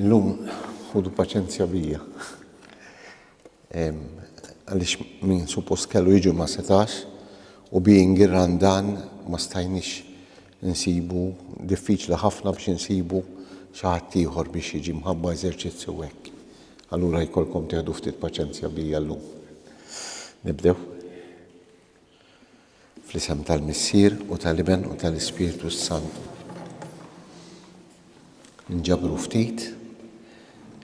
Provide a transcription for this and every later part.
Illum ħudu paċenzja bija. Għalix min suppost kellu jiġu ma setax u being irrandan ma stajnix Insibu diffiċli ħafna biex insibu xi ħadd ieħor biex jiġi mħabba eżerċizzju hekk. Allura jkollkom tieħdu ftit paċenzja bija llum. Nibdew? Fl-isem tal-Missier u tal-Iben u tal-Ispirtu s-Santu. Nġabru ftit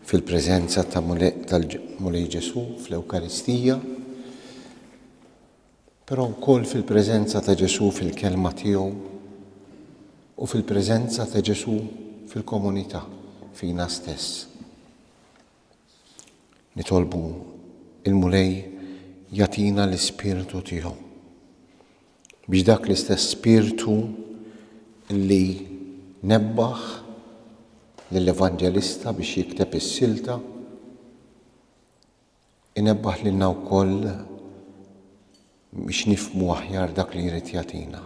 fil-preżenza tal-Mulej Ġesu fl-Ewkaristija però wkoll fil-preżenza ta' Ġesù fil-Kelma tiegħu u fil-preżenza ta' Ġesù fil-komunità, fina stess. Nitolbu il-Mulej jatina l-ispirtu tiegħu. Biex dak l-istess spirtu li nebbaħ lill-evanġelista biex jikteb is-silta Inebbaħ lilna wkoll biex nifhmu aħjar dak li jrid jagħtina.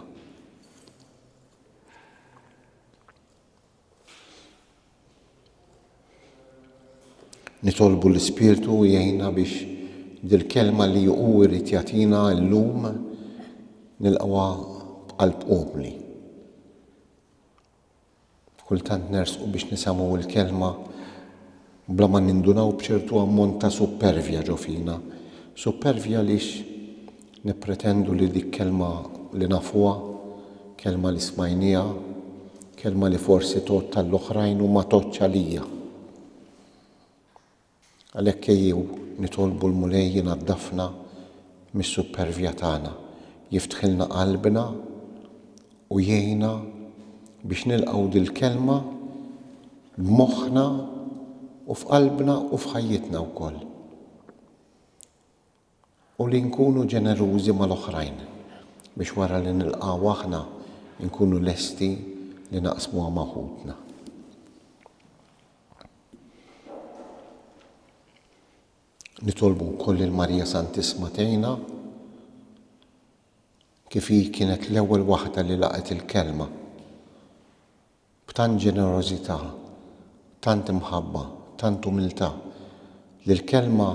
Nitolbu l-Ispirtu jgħinna biex dil-kelma li hu jrid jagħtina llum nilqgħuha b'qalb umli. Kultant nersqu biex nisemgħu l-Kelma bla ma nindunaw b'ċertu ammont ta' suppervja ġo fina. Suppervja għaliex nippretendu li dik kelma li nafuha, kelma li smajnieha, kelma li forsi tgħodd għall-oħrajn u ma tgħoddx għalija. Għalhekk ejjew nitolbu l-Mulej inaddafna mis-suppervja tagħna, jiftħilna qalbna u jgħinna biex nilqgħu dil-Kelma b'moħħna u f'qalbna u f'ħajjitna wkoll. u li nkunu ġenerużi mal-oħrajn biex wara li nilqgħu aħna nkunu lesti li naqsmuha ma' ħutna. Nitolbu wkoll lil Marija Santissma tgħinna kif hi kienet l-ewwel waħda li laqgħet il-Kelma b'tant ġenerożità, tant imħabba, tant umiltà, li l-Kelma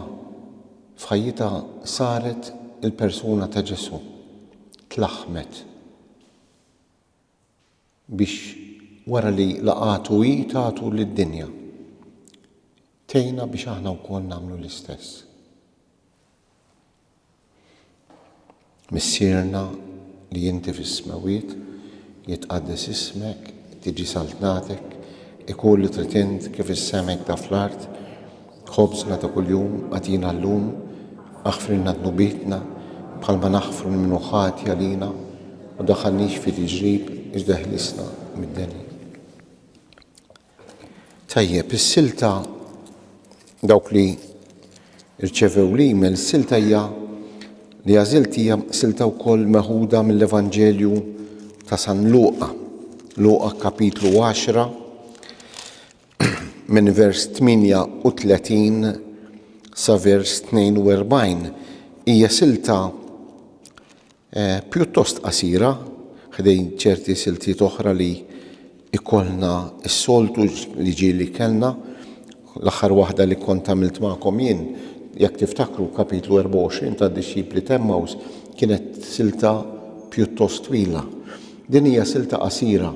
f'ħajjitha saret il-persuna ta' Ġesù, tlaħħmet biex wara li laqgħetu hi tagħtu lid-dinja. Tgħinna biex aħna wkoll nagħmlu l-istess. Missierna li inti fis-smewwiet, jitqaddes ismek, tiġi saltnatek, ikun li trid int kif is-sema hekk da fl-art, ħobżna ta' kuljum agħtina llum, aħfrilna dnubietna bħalma naħfru lil min hu ħati għalina, u daħħalnix fi tiġrib iżda ħlisna mid-deni. Tajjeb, is-silta dawk li rċevew l-email, is-silta hija li għażilt hija silta wkoll meħuda mill-Evanġelju ta' San Luqa, Luqa kapitlu 10 minn vers 38 sa vers 42. Hija silta pjuttost qasira ħdejn ċerti siltiet oħra li jkollna s-soltu li ġieli kellna. L-aħħar waħda li kont għamilt magħkom jien, jekk tiftakru kapitlu 24 tad-dixxipli t'Emmaws kienet silta pjuttost twila. Din hija silta qasira,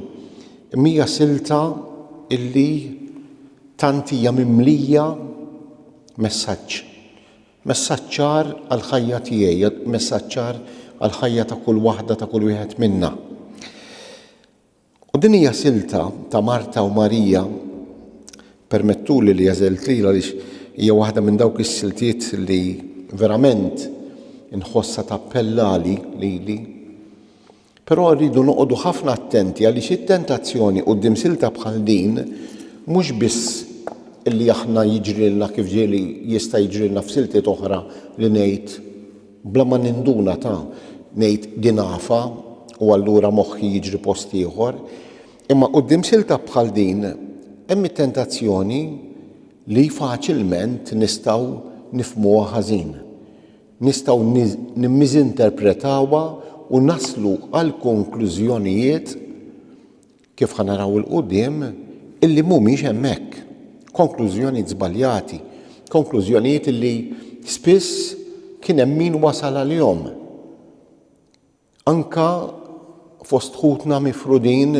imma hija silta illi tant hija mimlija messaġġ. Messaġġ ċar għall-ħajja tiegħi, messaġġ ċar għall-ħajja ta' kull waħda, ta' kull wieħed minna. U din hija silta ta' Marta u Marija, permettuli li għażilt lilha għaliex hija waħda minn dawk is-siltiet li verament inħossha tappellali lili. Però rridu noqogħdu ħafna attenti għaliex it-tentazzjoni quddiem silta bħal din mhux biss li aħna jiġrilna kif ġieli jista' jiġrilna f'siltiet oħra li ngħid bla ma ninduna ta' ngħid din afa u allura moħħi jiġri post ieħor imma quddiem silta bħal din hemm it-tentazzjoni li faċilment nistgħu nifhmuha ħażin. nistgħu nimmiżinterpretawha u naslu għal konklużjonijiet, kif ħa naraw 'il quddiem, illi mhumiex hemmhekk. Konklużjonijiet żbaljati. Konklużjonijiet illi spiss kien hemm min wasal għalihom. Anke fost ħutna mifrudin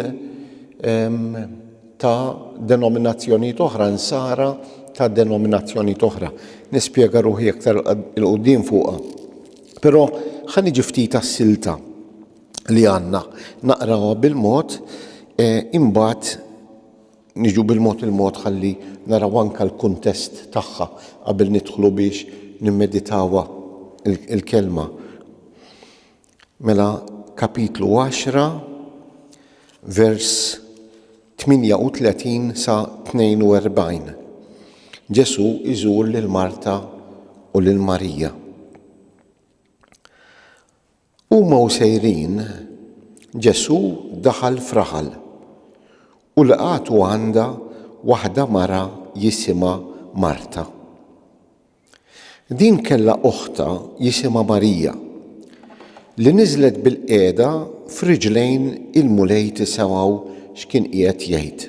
ta' denominazzjonijiet oħra, Nsara ta' denominazzjonijiet oħra. Nispjega ruħi aktar 'il quddiem fuqha. Però ħa niġi ftit għas-silta li għandna, naqrawha bil-mod, imbagħad, Niġu bil-mod il-mod ħalli naraw anke l-kuntest tagħha qabel nidħlu biex nimmeditawha l-Kelma. Mela kapitlu 10 vers 38 sa 42. Ġesu iżur lil Marta u lil Marija. Huma u sejrin, Ġesù daħal f'raħal u lqagħtu għandha waħda mara jisimha Marta. Din kellha oħtha jisimha Marija, li niżlet bilqiegħda f'riġlejn il-Mulej tisemgħu x'kien qiegħed jgħid.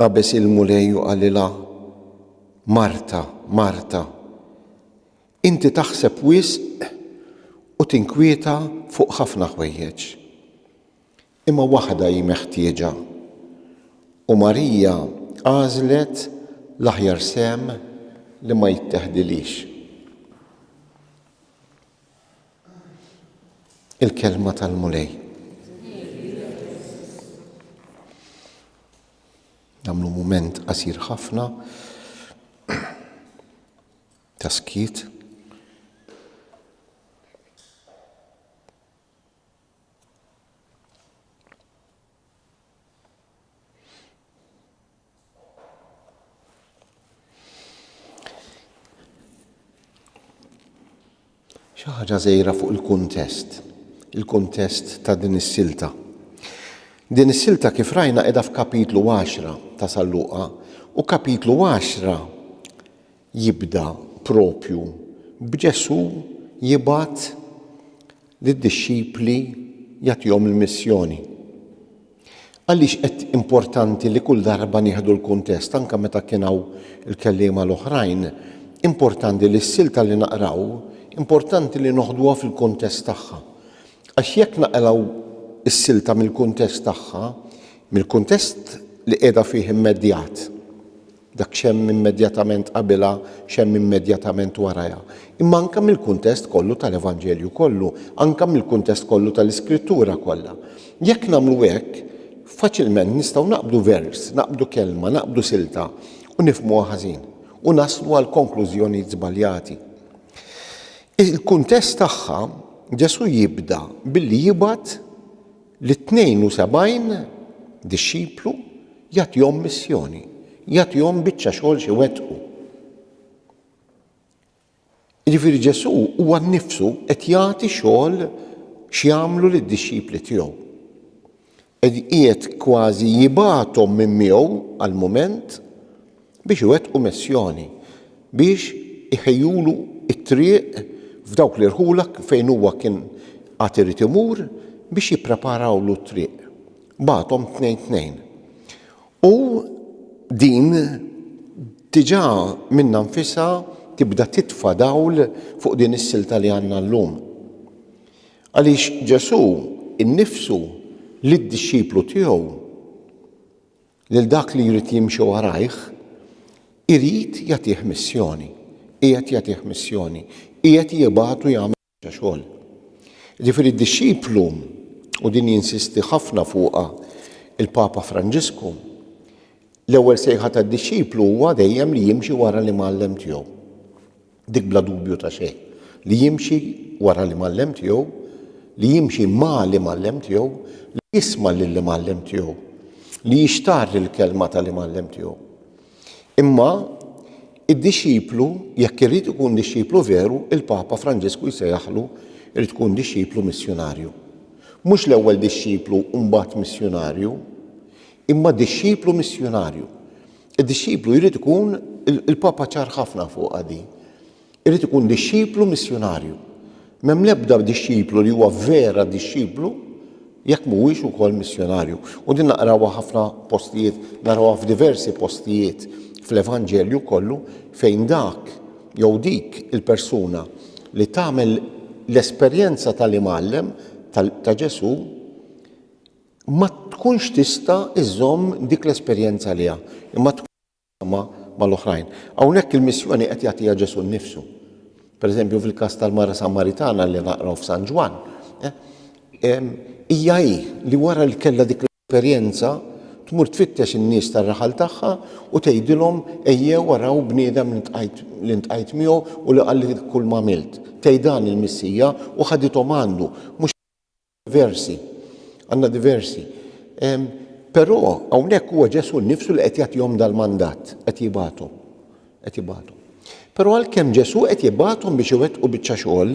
Qabeż il-Mulej u qalilha, Marta, Marta, inti taħseb wisq u tinkwieta fuq ħafna ħwejjeġ. Imma waħda hi meħtieġa, u Marija għażlet l-aħjar sehem li ma jitteħdilhiex. il-kelma tal-Mulej. Namlu mument qasir ħafna ta' skiet. Xi ħaġa żgħira fuq il-kuntest, il-kuntest ta' din is-silta. Din is-silta kif rajna qiegħda f'kapitlu 10 ta' Salluqa u kapitlu 10 jibda proprju b'Ġesù jibgħat lid-dixxipli jagħtihom il-missjoni. Għaliex qed importanti li kull darba nieħdu l-kuntest anke meta kien hawn il-kelliema l-oħrajn, importanti li s-silta li naqraw importanti li noħduha fil-kuntest tagħha. Għax jekk naqraw is-silta mill-kuntest tagħha, mill-kuntest li qiegħda fih immedjat, dak x'hemm immedjatament qabilha, x'hemm immedjatament warajha, imma anke mill-kuntest kollu tal-Evanġelju kollu, anke mill-kuntest kollu tal-Iskrittura kollha. Jekk nagħmlu hekk, faċilment nistgħu naqbdu vers, naqbdu kelma, naqbdu silta, u nifhmuha ħażin, u naslu għal konklużjonijiet żbaljati. Il-kuntest tagħha, Ġesù jibda billi jibgħat Lit-72 dixxiplu jagħtihom missjoni, jagħtihom biċċa xogħol x'iwettqu. Jiġifieri Ġesù huwa nnifsu qed jagħti xogħol x'jagħmlu lid-dixxipli tiegħu. Qed qiegħed kważi jibgħathom minn miegħu għall-mument biex iwettqu missjoni, biex iħejjulu t-triq f'dawk l-irħula fejn huwa kien għad irid imur biex jippreparawlu t-triq. Bagħathom tnejn tnejn. U din diġà minnha nfisha tibda titfa' dawl fuq din is-silta li għandna llum. Għaliex Ġesù nnifsu lid-dixxiplu tiegħu Lil dak li jrid jimxi warajh, irid jagħtih missjoni. Qiegħed jagħtih missjoni. Qiegħed jibgħatu jagħmel biċċa xogħol. Jiġifieri d-dixxiplu, u din jinsisti ħafna fuqha il-Papa Franġisku, l-ewwel sejħa tad-dixxiplu huwa dejjem li jimxi wara l-Imgħallem tiegħu. Dik bla dubju ta' xejn, li jimxi wara l-Imgħallem tiegħu, li jimxi ma' l-Imgħallem tiegħu, li jisma' lill-Imgħallem tiegħu, li jixtarr il-kelma ta' l-Imgħallem tiegħu. Imma id-dixxiplu, jekk irid ikun dixxiplu veru, il-Papa Franġisku jsejjaħlu jrid tkun dixxiplu missjunarju. Mhux l-ewwel dixxiplu u mbagħad missjunarju, imma dixxiplu missjunarju. Id-dixxiplu jrid ikun, il-Papa ċar ħafna fuqha din, irid ikun dixxiplu missjunarju. M'hemm l-ebda dixxiplu li huwa vera dixxiplu jekk mhuwiex ukoll missjunarju. U din naqrawha ħafna postijiet, narawha f'diversi postijiet fl-Evanġelju kollu fejn dak jew dik il-persuna li tagħmel l-esperjenza tal-imgħallem ta' Ġesù ma tkunx tista' iżżomm dik l-esperjenza għaliha, imma tkun taqsamha mal-oħrajn. Hawnhekk il-missjoni qed jagħtiha Ġesù nnifsu. Pereżempju fil-każ tal-mara Samaritana li naqraw f'San Ġwann, hija hi li wara li kellha dik l-esperjenza tmur tfittex in-nies tar-raħal tagħha u tgħidilhom ejjew araw bniedem li ntqajt miegħu u li qalli kull m'għamilt. Tgħidha li l-Missija u ħadithom għandu, mhux Diversi. Għandna diversi. Però hawnhekk huwa Ġesù nnifsu li qed jagħtihom dal-mandat, qed jibgħathom. Qed jibgħathom. Però għalkemm Ġesù qed jibgħathom biex iwettqu biċċa xogħol,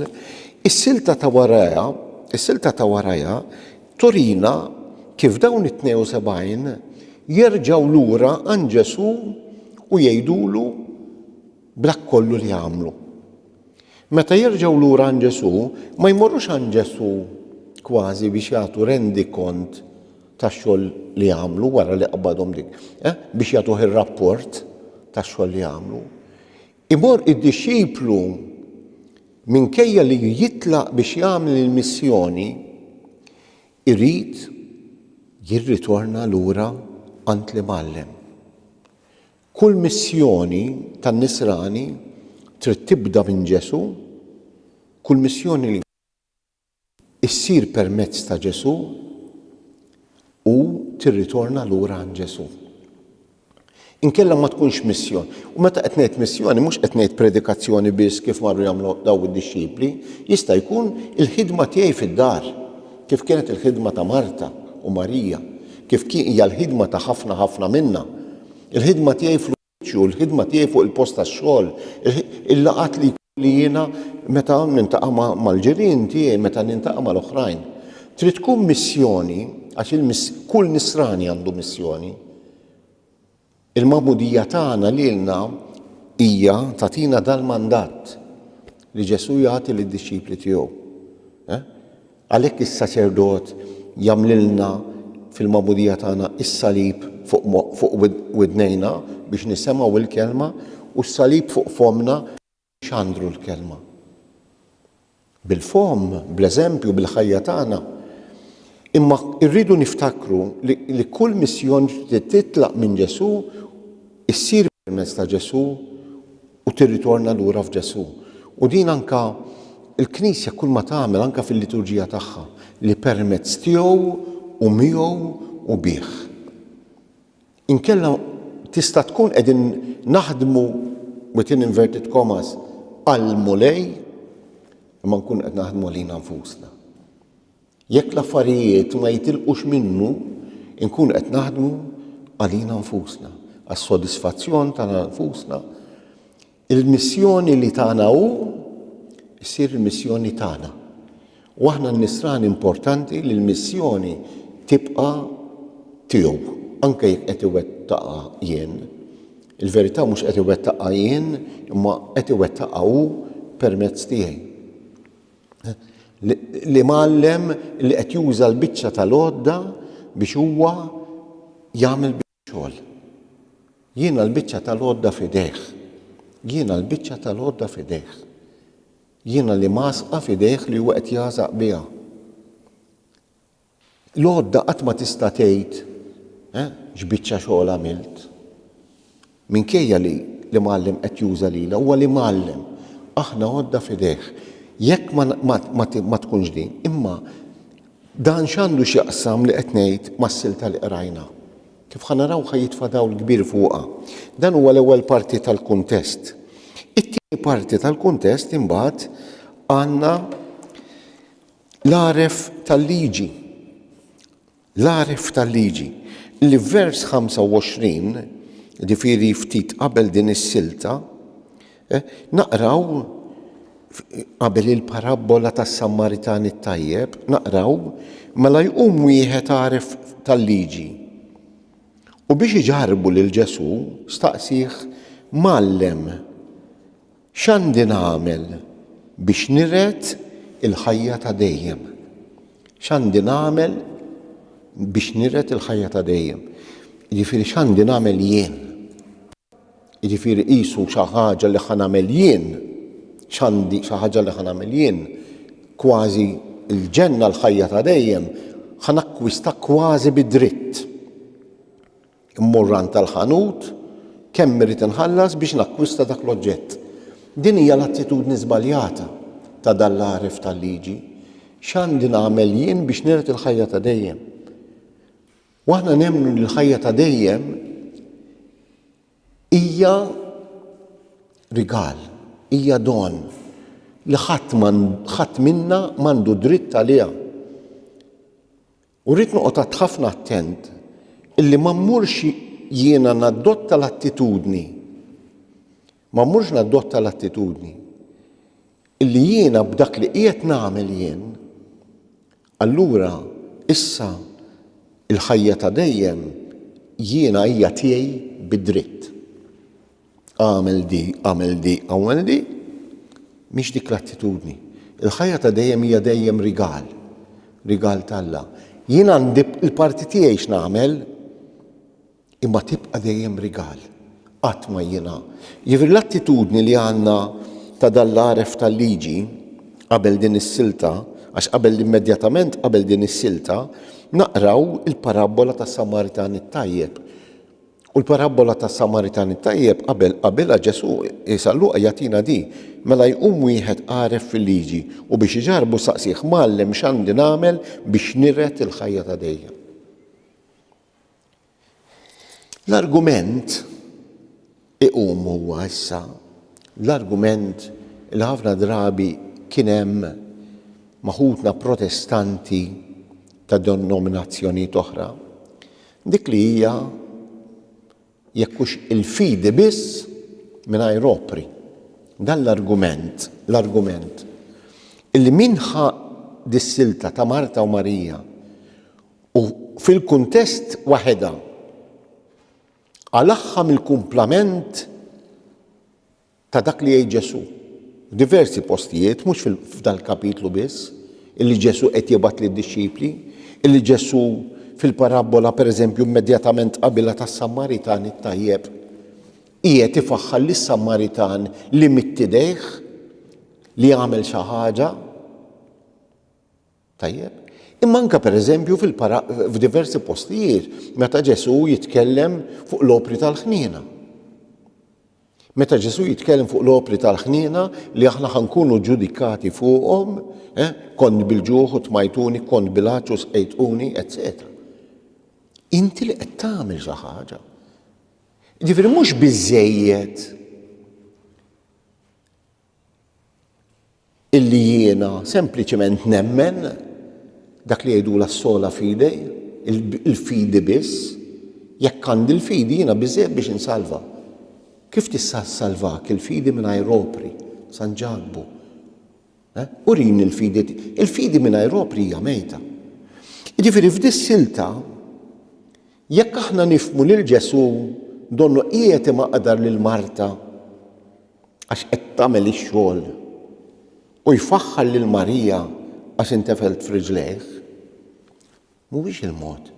is-silta ta' warajha, is-silta ta' warajha turina kif dawn it-72 jerġgħu lura għand Ġesù u jgħidulu, b'dak kollu li għamlu. Meta jerġgħu lura għand Ġesù, ma jmorrux għand Ġesù kważi biex jagħtu rendikont tax-xogħol li għamlu wara li qbadhom dik, eh, biex jagħtuh ir-rapport tax-xogħol li għamlu. Imorr id-dixxiplu minkejja li jitlaq biex jagħmel il-missjoni, irid jirritorna lura għand li mgħallem. Kull missjoni tan-nisrani trid tibda minn Ġesù, kull missjoni issir permezz ta' Ġesù u tirritorna lura għand Ġesù. Inkella ma tkunx missjon. U meta qed ngħid missjoni mhux qed ngħid predikazzjoni biss kif marru jagħmlu daw id-dixxipli, jista' jkun il-ħidma tiegħi fid-dar, kif kienet il-ħidma ta' Marta u Marija, kif hija l-ħidma ta' ħafna ħafna minna. Il-ħidma tiegħi fl-uffiċċju, il-ħidma tiegħi fuq il-post tax-xogħol, il-laqgħat li jkolli jiena meta nintaqa' mal-ġirien tiegħi, meta nintaqa' mal-oħrajn. Trid tkun missjoni għax kull nisrani għandu missjoni. Il-magħmudija tagħna lilna hija tagħtina dal-mandat li Ġesù jagħti lid-dixxipli tiegħu. Eh? Għalhekk is-saċerdot jagħmlilna fil-magħmudija tagħna s-salib fuq widnejna biex nisemgħu l-kelma u s-salib fuq fommna biex nxandru l-kelma. Bil-fomm, bl-eżempju, bil-ħajja tagħna. Imma rridu niftakru li kull missjon li titlaq minn Ġesù issir permezz ta' Ġesù u tirritorna lura f'Ġesù. U din anke il-Knisja kull ma tagħmel anke fil-liturġija tagħha li permezz tiegħu u miegħu u bih. Inkella tista' tkun qegħdin naħdmu within inverted commas għall-Mulej imma nkun qed naħdmu għalina nfusna. Jekk l-affarijiet ma jitilqux minnu, inkunu qed naħdmu għalina nfusna, għas-sodisfazzjon tagħna nfusna. Il-missjoni li tagħna hu ssir il-missjoni tagħna. U aħna n-nisrani importanti li l-missjoni tibqa' tiegħu, anke jekk qed iwettaqha jien. Il-verità mhux qed iwettaqha jien, imma qed iwettaqha hu permezz tiegħi. l-imgħallem li qed juża l-biċċa tal-għodda biex huwa jagħmel xogħol. Jiena l-biċċa tal-għodda f'idejh. Jiena l-biċċa tal-għodda f'idejh. Jiena li masqa f'idejh li huwa qed jagħżaq biha. L-għodda qatt ma tista' tgħid, Eh, x'biċċa xogħol għamilt! Minkejja li l-imgħallem qed juża lilha, huwa l-imgħallem. Aħna għodda f'idejh. Jekk ma tkunx din, imma dan x'għandu x'jaqsam li qed ngħid mas-silta li qrajna? Kif ħa naraw ħa jitfa' dawl kbir fuqha. Dan huwa l-ewwel parti tal-kuntest. It-tieni parti tal-kuntest imbagħad għandna L-għaref tal-liġi L-għaref tal-liġi li f'vers 25, jiġifieri ftit qabel din is-silta, naqraw qabel il-parabbola tas-Sammaritan it-tajjeb, naqraw, mela jqum wieħed għaref tal-liġi. U biex iġarbu lil Ġesù, staqsih, Mgħallem, X'għandi nagħmel biex niret il-ħajja ta' dejjem? X'għandi nagħmel biex niret il-ħajja ta' dejjem? Jiġifieri x'għandi nagħmel jien? Jiġifieri qisu xi ħaġa li ħa nagħmel jien, x'għandi, xi ħaġa li ħa nagħmel jien, kważi l-ġenna, l-ħajja ta' dejjem, ħa nakkwista kważi bi dritt. Immur għand tal-ħanut, kemm irrid inħallas biex nakkwista dak l-oġġett? Din hija l-attitudni żbaljata ta' dan l-għaref tal-liġi. X'għandi nagħmel jien biex niret il-ħajja ta' dejjem? U aħna nemmnu li l-ħajja ta' dejjem hija rigal, hija don li ħadd minna m'għandu dritt għaliha. U rrid noqgħod ħafna attent illi ma mmurx jiena nadotta l-attitudni, ma mmurx nadotta l-attitudni illi jiena b'dak li qiegħed nagħmel jien, allura issa l-ħajja ta' dejjem jiena hija tiegħi bi dritt. Agħmel di, agħmel di, agħmel di, mhix dik l-attitudni. Il-ħajja ta' dejjem hija dejjem rigal, rigal t'Alla. Jien għandi l-parti tiegħi x'nagħmel, imma tibqa' dejjem rigal, qatt ma jiena. Jiġifieri l-attitudni li għandna ta' dan l-għaref tal-liġi qabel din is-silta, għax qabel immedjatament qabel din is-silta, naqraw il-parabbola tas-Samaritan it-tajjeb. U l-parabbola tas-Samaritan it-tajjeb qabel qabilha Ġesù, San Luqa jagħtina din, Mela jqum wieħed għaref fil-liġi u biex iġarrbu saqsieh, Mgħallem x'għandi nagħmel biex niret il-ħajja ta' dejjem? L-argument iqum huwa issa l-argument li ħafna drabi kien hemm maħutna protestanti ta' denominazzjonijiet oħra Dik li hija jekk hux il-fidi biss mingħajr opri. Dan l-argument, l-argument illi min ħa dis-silta ta' Marta u Marija u fil-kuntest waħedha qalagħha mill-kumplament ta' dak li jgħid Ġesù. F'diversi postijiet, mhux f'dan il-kapitlu biss, illi Ġesù qed jibgħat lid-dixxipli, illi Ġesù fil-parabbola pereżempju immedjatament qabilha tas-Samaritan it-tajjeb, qiegħed ifaħħar lis-Samaritan li mittidejh li għamel xi ħaġa Tajjeb. Imma anke pereżempju fil-para f'diversi postijiet meta Ġesù jitkellem fuq l-opri tal-ħniena. Meta Ġesù jitkellem fuq l-opri tal-ħniena li aħna ħankunu ġudikati fuqhom, eh, kont bil-ġuħ u tmajtuni, kont bil-għaċċ u sqejtuni, etc. Inti li qed tagħmel xi ħaġa. Ġifieri mhux biżejjed illi jiena sempliċement nemmen dak li jgħidula s-sola fide, il-fidi biss, jekk għandi l-fidi jiena biżejjed biex insalva. Kif tista' ssalvak il-fidi mingħajr opri, San Ġakbu? Eh? Urini l-fidi, il-fidi mingħajr opri hija mejta. Jiġifieri f'dis silta jekk aħna nifmu lil Ġesu donnu qiegħed imaqdar lil Marta għax qed tagħmel ix-xogħol u jfaħħar lil Marija għax intefelt f'riġlejh? Mhuwiex il-mod.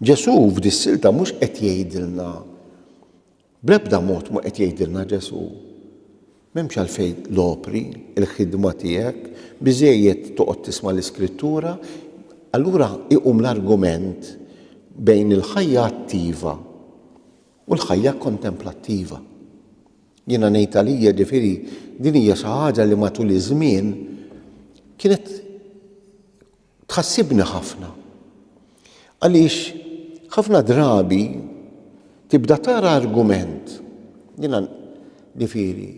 Ġesù f'dis-silta mhux qed jgħidilna bl-ebda mod mhu qed jgħidilna Ġesù m'hemmx għalfejn l-opri, il-ħidma tiegħek, biżejjed toqgħod tisma' l-iskrittura, allura iqum l-argument bejn il-ħajja attiva U l-ħajja kontemplattiva. Jiena ngħid għalija ġifieri din hija xi ħaġa li matul iż-żmien kienet tħassibni ħafna. Għaliex ħafna drabi tibda tara argument jiena ġifieri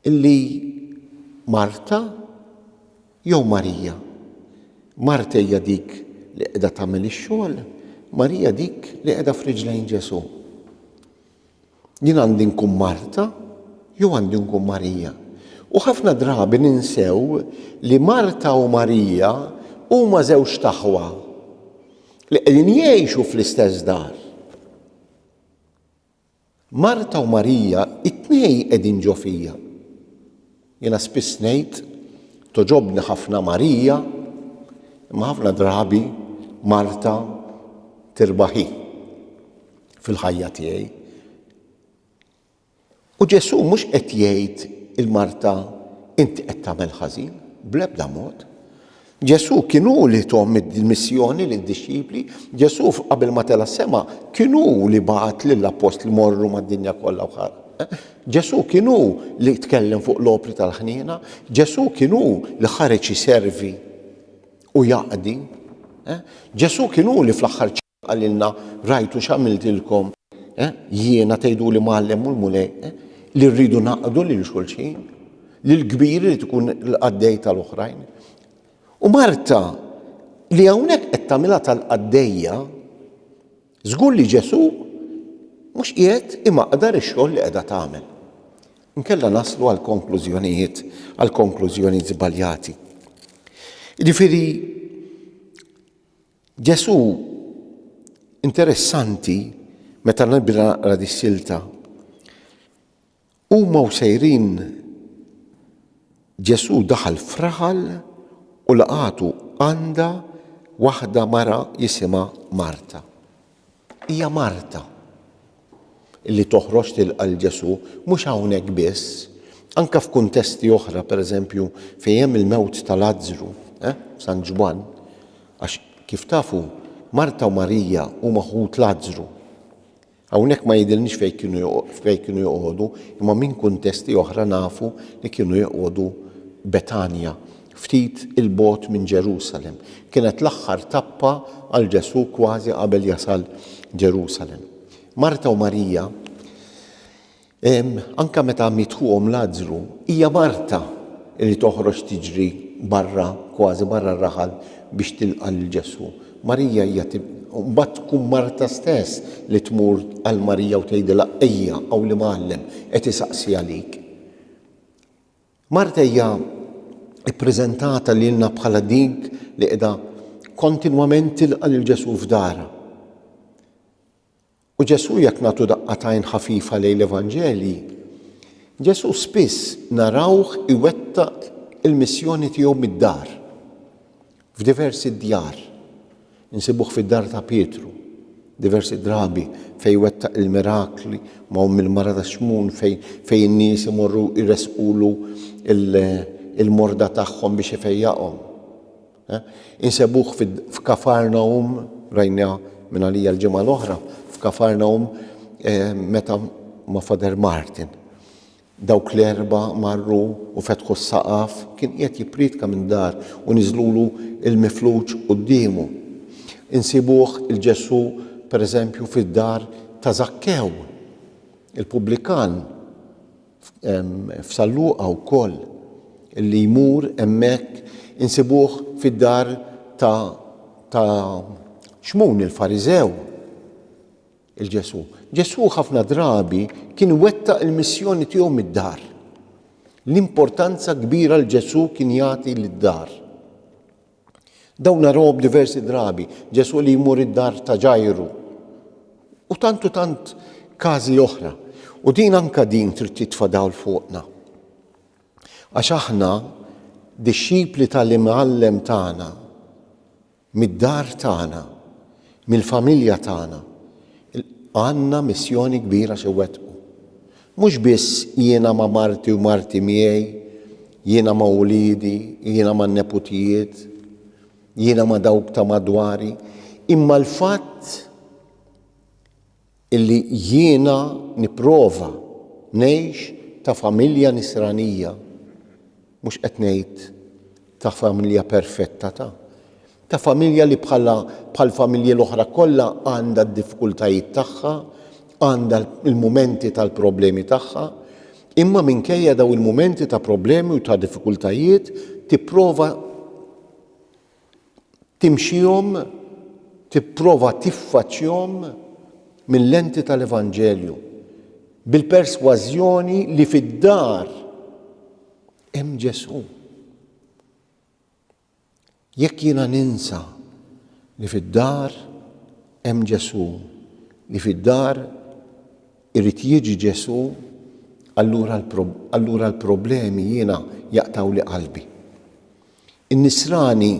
Li Marta jew Marija? Marta hija dik li qiegħda tagħmel ix-xogħol, Marija dik li qiegħda f'riġlejn Ġesù. Jien għandi nkun Marta jew għandi nkun Marija? U ħafna drabi ninsew li Marta u Marija huma żewġt aħwa li qegħdin jgħixu fl-istess dar. Marta u Marija t-tnejn qegħdin ġo fija. Jiena spiss ngħid, togħġobni ħafna Marija, imma ħafna drabi Marta tirbaħ hi fil-ħajja tiegħi. U Ġesù mhux qed jgħid 'il Marta inti qed tagħmel ħażin, bl-ebda mod. Ġesù kien hu li tom il-missjoni lid-dixxipli. Ġesù qabel ma tela' s-sema kien hu li bagħat lill-appostli morru mad-dinja kollha u ħa. Ġesù kien hu li tkellem fuq l-opri tal-ħniena. Ġesù kien hu li ħareġ iservi u jaqdi. Ġesù kien hu li fl-aħħar Qalilna, Rajtu x'għamiltilkom, eh, jiena, tgħiduli Mgħallem u l-Mulej, eh, li rridu naqdu lil xulxin, li l-kbir irid ikun l-qaddej tal-oħrajn. U Marta, li hawnhekk qed tagħmilha tal-qaddejja, żgur li Ġesù mhux qiegħed imaqdar ix-xogħol li qiegħda tagħmel. Inkella naslu għal konklużjonijiet, għal konklużjonijiet żbaljati. Jiġifieri Ġesù interessanti meta nibda naqra dis-silta. Huma u sejrin Ġesù daħal f'raħal u laqatu għandha waħda mara jisimha Marta. Hija Marta li toħroġ tilqa' 'l Ġesù, mhux hawnhekk biss, anke f'kuntesti oħra, pereżempju, fejn hemm il-mewt ta' Lazzru, eh, San Ġwann, għax kif tafu, Marta u Marija huma ħut Lazzru. Hawnhekk ma jidhirniex fejn kienu fejn kienu joqogħdu, imma minn kuntesti oħra nafu li kienu joqogħdu Betanja, ftit 'il bogħod minn Ġerusalemm. Kienet l-aħħar tappa għal Ġesù kważi qabel jasal Ġerusalemm. Marta u Marija, anke meta miet ħuhom Lazzru, hija Marta li toħroġ tiġri barra, kważi barra r-raħal biex tilqa' lil Ġesù. Marija hija mbagħad tkun Marta stess li tmur għal Marija u tgħidilha, Ejja, hawn l-Imgħallem qed isaqsi għalik. Marta hija ppreżentata lilna bħala dik li qiegħda kontinwament tilqa' lil Ġesù f'darha. U Ġesù jekk nagħtu daqqa tajn ħafifa lejn l-Evanġelji, Ġesù spiss narawh iwettaq il-missjoni tiegħu mid-dar. F'diversi djar. Insibuh fid-dar ta' Pietru, diversi drabi, fejn wettaq il-mirakli ma' omm il-mara ta' Xmun fejn fejn in-nies imorru jressqulu l, il-morda tagħhom biex ifejjaqhom. Insebuh fid, f'Kafarnawm, rajniha minn għalija l-ġimgħa l-oħra, f'Kafarnawm meta ma' Father Martin. Dawk l-erbgħa marru u fetħu s-saqaf, kien qiegħed jippriedka minn dar u niżlulu l-mifluġ quddiemu. Insibuh 'il Ġesù, per eżempju, fid-dar ta' Żakkew, il-pubblikan, f'San Luqa wkoll, li jmur hemmhekk, insibuh fid-dar ta' ta' Xmun il-Fariżew. 'il Ġesù. Ġesù ħafna drabi kien iwettaq il-missjoni tiegħu mid-dar. L-importanza kbira li Ġesù kien jagħti lid-dar. Dawn narawhom diversi drabi, Ġesù li jmur id-dar ta' Ġajru. U tant u tant każi oħra. U din anka din trid titfa' dawl fuqna. Għax aħna dixxipli tal-imgħallem tagħna. Mid-dar tagħna, mill-familja tagħna, għandna missjoni kbira x'inwettqu. Mhux biss jiena ma' marti u marti miegħi, jiena ma' uliedi, jiena man-neputijiet, jiena ma' dawk ta' madwari, imma l-fatt Illi jiena nipprova ngħix ta' familja nisranija, mhux qed ngħid ta' familja perfetta ta', ta' familja li bħala bħall-familji l-oħra kollha għandha d-diffkultajiet tagħha, għandha l-mumenti tal-problemi tagħha, imma minkejja dawn il-mumenti ta' problemi u ta' diffikultajiet tipprova timxihom, tipprova tiffaċċjhom mil-lenti tal-Evanġelju, bil-persważjoni li fid-dar hemm Ġesù. Jekk jiena ninsa li fid-dar hemm Ġesù, li fid-dar irid jiġi Ġesù, allura l-problemi jiena jaqtaw li qalbi. In-Nisrani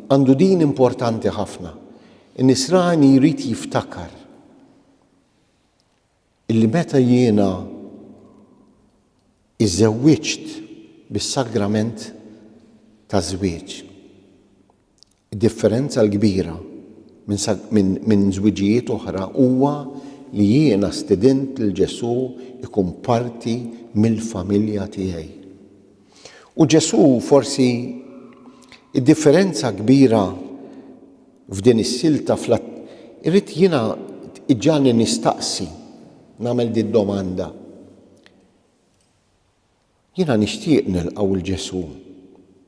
għandu din importanti ħafna. In-Nisrani jrid jiftakar illi meta jiena iżżewwiġt bis-sagrament taż-żwieġ, id-differenza l-kbira minn żwiġijiet oħra huwa li jiena stidint lil Ġesù jkun parti mill-familja tiegħi. U Ġesù forsi d-differenza kbira f'din is-silta fl irrid jiena iġġagħalni nistaqsi, nagħmel din domanda. Jiena nixtieq nilqgħu lil Ġesù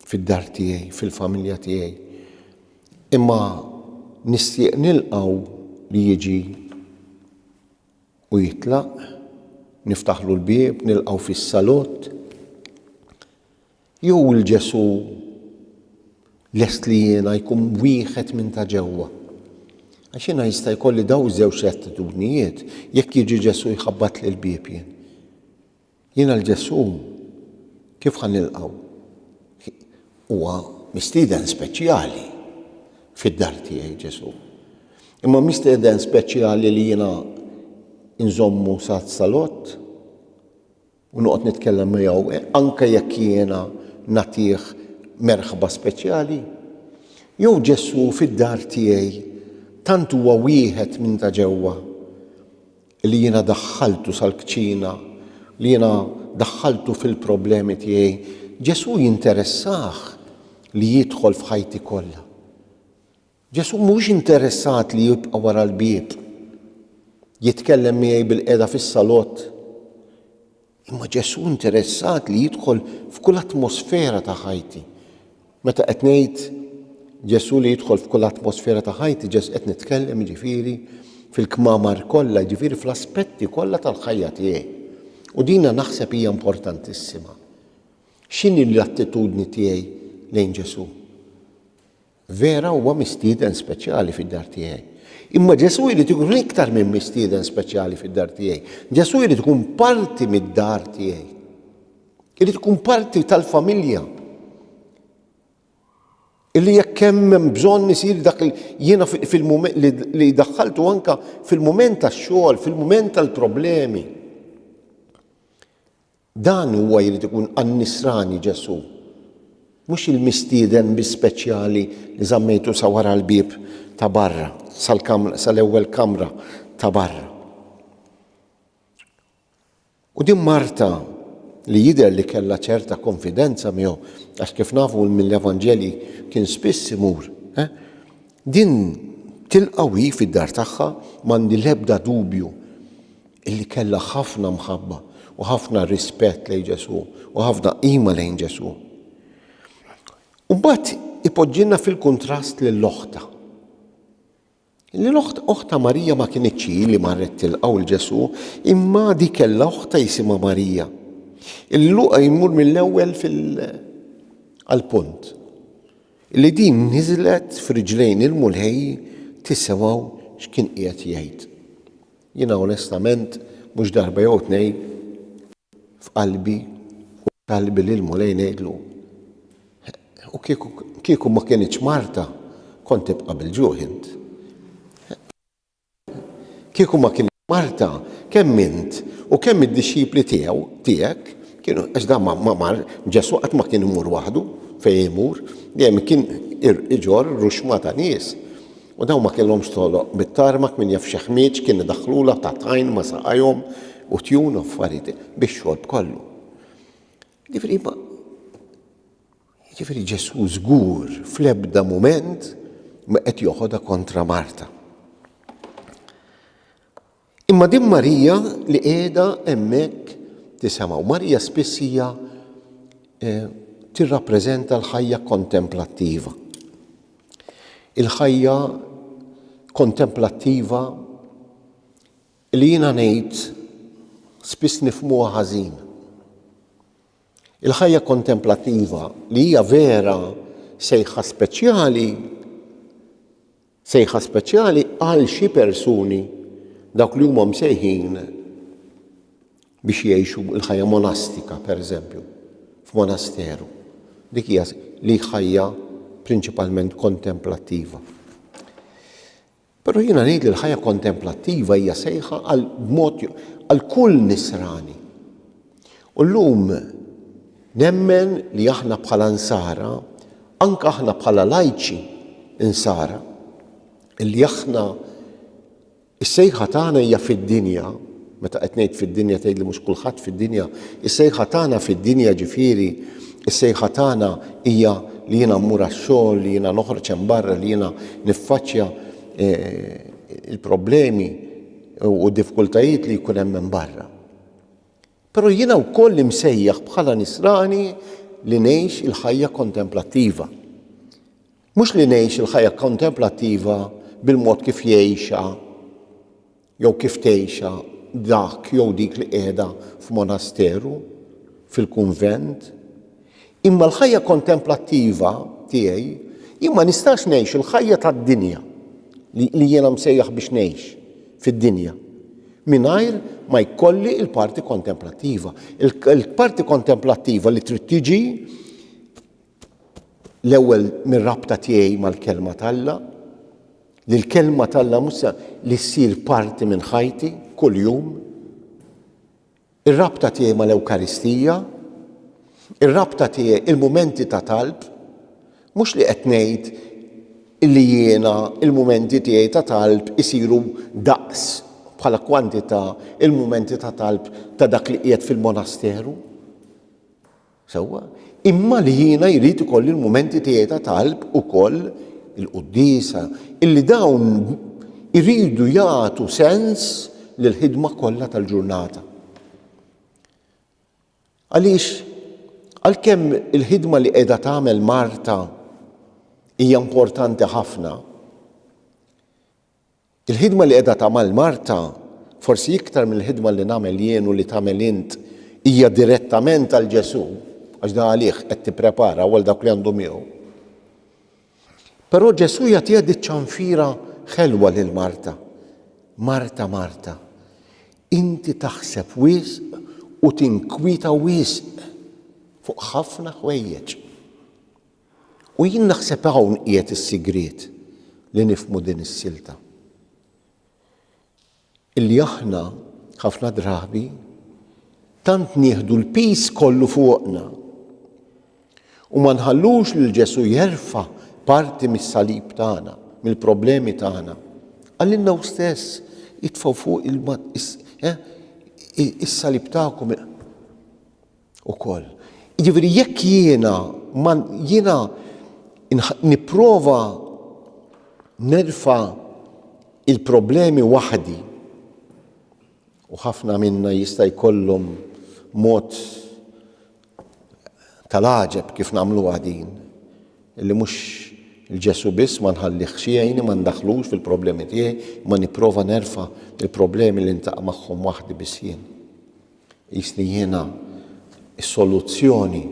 fid-dar tiegħi, fil-familja tiegħi. Imma nixtieq nilqgħu li jiġi u jitlaq, niftaħlu l-bieb, nilqgħu fis-salott, jew il-Ġesù lest li jiena jkun wieħed minn ta' ġewwa? Għax jiena jista' jkolli daw żewġ attitudnijiet jekk jiġi Ġesù jħabbat lil bieb jien. Jiena l-Ġesù, kif ħa nilqgħu? Huwa mistieden speċjali fid-dar tiegħi Ġesù. Imma mistieden speċjali li jiena nżommu sa salott u noqgħod nitkellem miegħu anke jekk jiena nagħtih merħba speċjali? Jew Ġesù fid-dar tiegħi tant huwa wieħed minn ta' ġewwa li jiena daħħaltu sal-kċina, li jiena daħħaltu fil-problemi tiegħi, Ġesù jinteressah li jidħol f'ħajti kollha. Ġesù mhux interessat li jibqa' wara l-bieb, jitkellem miegħi bil-qeda fis-salott, Imma Ġesù interessat li jidħol f'kull atmosfera ta' ħajti. Meta qed ngħid Ġesù li jidħol f'kull atmosfera ta' ħajti, Ġesù qed nitkellem jiġifieri fil-kmamar kollha, jiġifieri fl-aspetti kollha tal-ħajja tiegħi. U dina naħseb hija importantissima. X'inhi l-attitudni tiegħi lejn Ġesù? Vera huwa mistieden speċjali fid-dar tiegħi. Imma Ġesù jrid ikun iktar minn mistieden speċjali fid-dar tiegħi. Ġesù jrid ikun parti mid-dar tiegħi. Irid ikun parti tal-familja. Illi jekk hemm bżonn isir dak jiena fil-mument li daħħaltu anka fil-mument tax-xogħol, fil-mument tal-problemi. Dan huwa jrid ikun għan-nisrani Ġesù, mhux il-mistieden biss speċjali li żammejtu sa wara l-bieb ta' barra, sal-kamra, sal-ewwel kamra ta' barra. U din Marta li jidher li kellha ċerta konfidenza miegħu, għax kif nafu mill-Evanġelji kien spiss imur, eh? din tilqaw hi fid-dar tagħha m'għandi l-ebda dubju li kellha ħafna mħabba u ħafna rispett lejn Ġesù u ħafna qima lejn Ġesù. U mbagħad ipoġġilna fil-kuntrast lil oħta. Li l-oħt oħta Marija ma kinitx li marret tilqgħu l Ġesù, imma di kellha oħta jisimha Marija. Il-luqa jmur mill-ewwel fil-punt. Li din niżlet f'riġlejn il-mulħej tisimgħu x'kien qiegħed jgħid. Jiena onestament mhux darba jew tnejn f'qalbi u f'kalbi lill-Mulej ngħidlu, U kieku kieku ma kinitx Marta, kont tibqa' bil-ġuħ int. Kieku ma kien Marta, kemm int u kemm id-dixxipli tiegħu tiegħek kienu għax dan ma mar Ġesù qatt ma kien imur waħdu fejn imur, dejjem kien iġorr ruxma ta' nies. U dawn ma kellhomx toroq mit-tarmak min jaf x'ħmieġ kien idaħħlulha ta' tajn ma' saqajhom u tjun u affarijiet bix-xorb kollu. Ġifieri ma ġifieri Ġesù żgur fl-ebda mument ma qed joħodha kontra Marta. Imma din Marija li qiegħda hemmhekk tisemgħu. Marija spiss hija eh, tirrappreżenta l-ħajja kontemplattiva. Il-ħajja kontemplattiva li jiena ngħid spiss nifmuha ħażin. Il-ħajja kontemplattiva li hija vera sejħa speċjali Sejħa speċjali għal xi persuni, dawk li huma msejħin biex jgħixu l-ħajja monastika, pereżempju, f'monasteru. Dik hija li ħajja prinċipalment kontemplattiva. Però jiena ngħid li l-ħajja kontemplattiva hija sejħa għal mod għal kull nisrani. U llum nemmen li aħna bħala Nsara, anke aħna bħala lajċi Nsara, li aħna s-sejħa tagħna hija fid-dinja, meta qed ngħid fid-dinja tgħidli mhux kulħadd fid-dinja, is-sejħa tagħna fid-dinja ġifieri s-sejħa tagħna hija li jiena mmur għax-xogħol, li jiena noħroġ hemm barra, li jiena niffaċċja l-problemi u d-diffikultajiet li jkun hemm hemm barra. Però jiena wkoll imsejjaħ bħala Nisrani li ngħix il-ħajja kontemplattiva. Mhux li ngħix il-ħajja kontemplattiva bil-mod kif jgħixha jew kif tgħixha dak jew dik li qiegħda f'monasteru, fil-kunvent, Imma l-ħajja kontemplattiva tiegħi, jien ma nistax ngħix il-ħajja tad-dinja, li, li jiena msejjaħ biex ngħix fid-dinja, mingħajr ma jkolli l-parti kontemplattiva. Il-parti kontemplattiva li trid tiġi l-ewwel mir-rabta tiegħi mal-kelma t'Alla, li l-kelma t'Alla mhux li ssir parti minn ħajti kuljum, Ir-rabta tiegħi mal-Ewkaristija, ir-rabta tiegħi, il-mumenti ta' talb, mhux li qed ngħid li jiena l-mumenti tiegħi ta' talb isiru daqs, bħala kwantità, il-mumenti ta' talb ta' dak li qiegħed fil-monasteru. Sewwa, imma li jiena jrid ikolli l-mumenti tiegħi ta' talb ukoll, il-quddiesa, illi dawn iridu jagħtu sens lill-ħidma kollha tal-ġurnata. Għaliex, għalkemm il-ħidma li qiegħda tagħmel Marta hija importanti ħafna, Il-ħidma li qiegħda tagħmel Marta, forsi iktar mill-ħidma li nagħmel jien u li tagħmel int, hija direttament għal Ġesù, għax dan għalih qed tipprepara u għal dawk li għandhom miegħu. Però Ġesù jagħtiha di ċanfira ħelwa lil Marta. Marta, Marta, inti taħseb wisq u tinkwita wisq fuq ħafna ħwejjeġ. U jien naħseb hawn qiegħed is-sigriet li nifhmu din is-silta. Illi aħna, ħafna drabi, tant nieħdu l-piż kollu fuqna u ma nħallux lil Ġesù jerfa' parti mis-salib tagħna, mill-problemi tagħna. Għalilna hu stess jitfgħu fuq eh, is-salib tagħkom ukoll. Jiġifieri jekk jiena ma jiena nipprova nerfa' il-problemi waħdi u ħafna minna jista' jkollhom mod tal-għaġeb kif nagħmluha din li mhux il Ġesù biss ma nħallihx jgħinni ma ndaħħlux fil-problemi tiegħi imma nipprova nerfa' il-problemi li niltaqa' magħhom waħdi biss jien. Qisni jiena s-soluzzjoni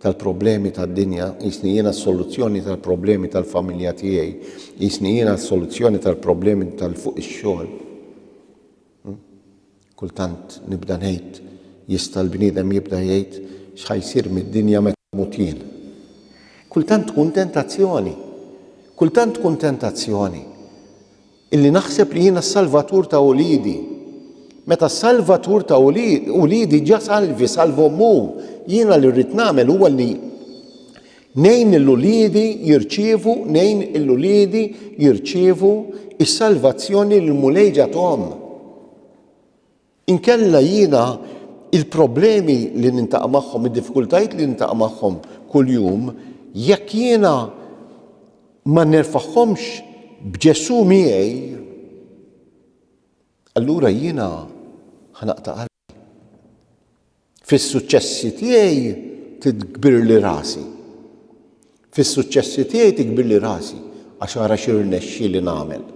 tal-problemi tad-dinja, qisni jiena s-soluzzjoni tal-problemi tal-familja tiegħi, qisni jiena s-soluzzjoni tal-problemi tal fuq ix-xogħol. Hmm? Kultant nibda ngħid jista' l-bniedem jibda jgħid x'ħa jsir mid-dinja meta mut jien. Kultant tkun tentazzjoni. Kultant tkun tentazzjoni. Illi naħseb li jiena s-salvatur ta' uliedi. Meta s-salvatur ta' uliedi ġa salvi, salvhom hu. Jiena li rrid nagħmel huwa li ngħin lil uliedi jirċievu, ngħin lil uliedi jirċievu s-salvazzjoni li l-Mulej ġathom. Inkella jiena l-problemi li nintaqa' magħhom, id-diffikultajiet li nintaqa' magħhom kuljum, jekk jiena ma nerfagħhomx b'Ġesù miegħi, allura jiena ħa naqta' qalbi. Fis-suċċessi tiegħi tikbirli rasi. Fis-suċċessi tiegħi tikbirli rasi għax ara x'irnexxieli nagħmel.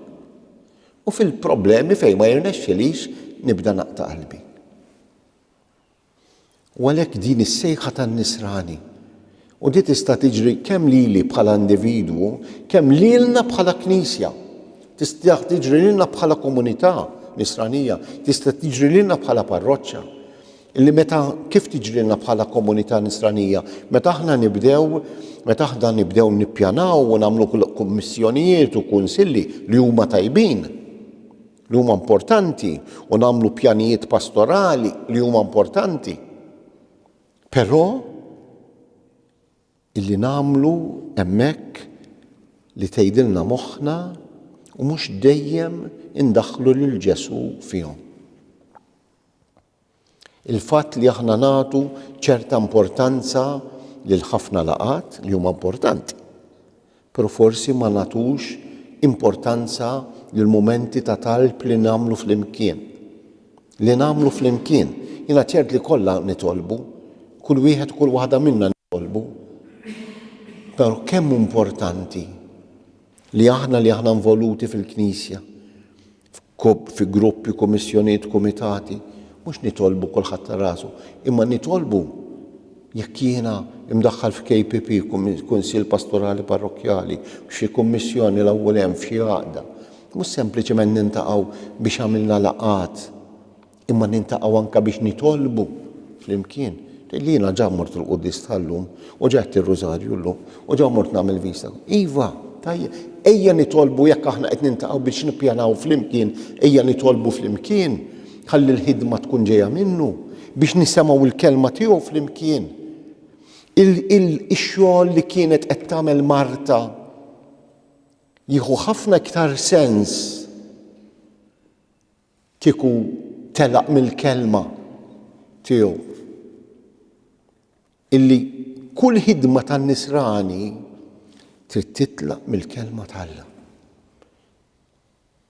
U fil-problemi fejn ma jirnexxilix nibda naqta' qalbi. U għalhekk din is-sejħa tan-nisrani U di tista' tiġri kemm lili bħala individwu, kemm lilna bħala Knisja. Tista' tiġri lilna bħala komunità Nisranija, tista' tiġri lilna bħala parroċċa. Illi meta kif tiġrilna bħala komunità Nisranija? Meta aħna nibdew meta aħna nibdew nippjanaw u nagħmlu kummissjonijiet u kunsilli li huma tajbin, li huma importanti u nagħmlu pjanijiet pastorali li huma importanti. Però illi nagħmlu hemmhekk li tgħidilna moħħna u mhux dejjem indaħħlu lil Ġesù fihom. Il-fatt li aħna nagħtu ċerta importanza lil ħafna laqgħat li huma importanti. Però forsi ma nagħtux importanza lill-mumenti ta' talb li nagħmlu flimkien. Li nagħmlu flimkien. Jiena ċert li kollha nitolbu. Kull wieħed u kull waħda minna nitolbu. Però kemm hu importanti li aħna li aħna involuti fil-Knisja, f'grupp, fi gruppi, kummissjonijiet, kumitati, mhux nitolbu kulħadd għal rasu, imma nitolbu jekk jiena mdaħħal f'KPP, Kunsill Pastorali Parrokkjali, f'xi kummissjoni l-awwel hemm, f'xi għaqda, mhux sempliċement nintaqgħu biex għamilna laqgħat, Imma nintaqgħu anke biex nitolbu flimkien. Tgħidli jiena ġa mort il-Quddies tal-lum u ġa għedt ir-Rużarju llum u ġa mort nagħmel vista. Iva, tajjeb, ejja nitolbu jekk aħna qed nintaqgħu biex nippjanaw flimkien, ejja nitolbu flimkien ħalli l-ħidma tkun ġejja minnu, biex nisemgħu l-kelma tiegħu flimkien. Ix-xogħol li kienet qed tagħmel Marta jieħu ħafna iktar sens Kieku telaq mill-Kelma tiegħu illi kull ħidma tan-nisrani trid titlaq mill-Kelma t'Alla.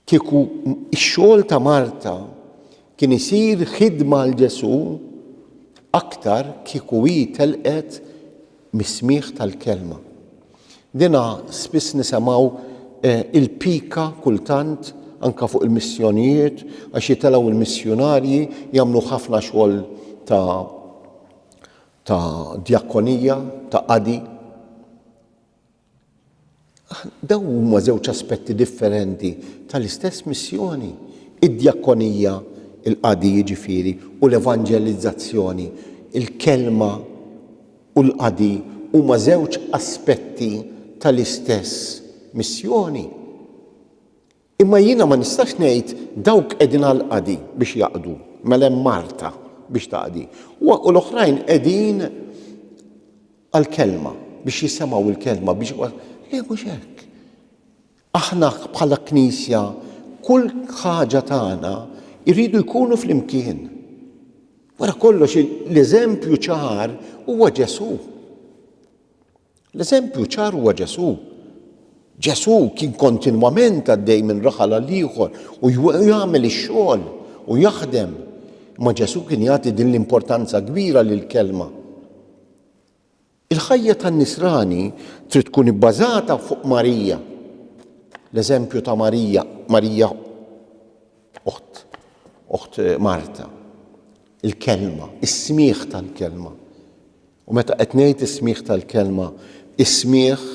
Kieku x-xogħol ta' Marta kien isir ħidma għal Ġesù aktar kieku hi telqet mis-smigħ tal-kelma. Dina spiss nisemgħu il-pika kultant anke fuq il-missjonijiet għax jitilgħu l-missjunarji jagħmlu ħafna xogħol ta' ta' djakonija, ta' qadi. Dawn huma żewġ aspetti differenti tal-istess missjoni, id-djakkonija, il-qadi jiġifieri, u l-evanġelizzazzjoni. Il-kelma u l-qadi huma żewġ aspetti tal-istess missjoni. Imma jiena ma nistax ngħid dawk qegħdin għall-qadi biex jaqdu, mela hemm Marta biex taqdi, u l-oħrajn qegħdin għall-kelma, biex jisemgħu l-kelma, biex le mhux hekk. Aħna bħala Knisja kull ħaġa tagħna jridu jkunu flimkien. Wara kollox l-eżempju ċar huwa Ġesù. L-eżempju ċar huwa Ġesù. Ġesù kien kontinwament għaddej minn raħal għal ieħor u jagħmel ix-xogħol u jaħdem. Imma Ġesù kien jagħti din l-importanza kbira lill-Kelma. Il-ħajja tan-Nisrani trid tkun ibbażata fuq Marija. L-eżempju ta' Marija, Marija oħt, oħt Marta, il-kelma, is-smigħ tal-kelma. U meta qed ngħid is-smigħ tal-Kelma, is-smigħ,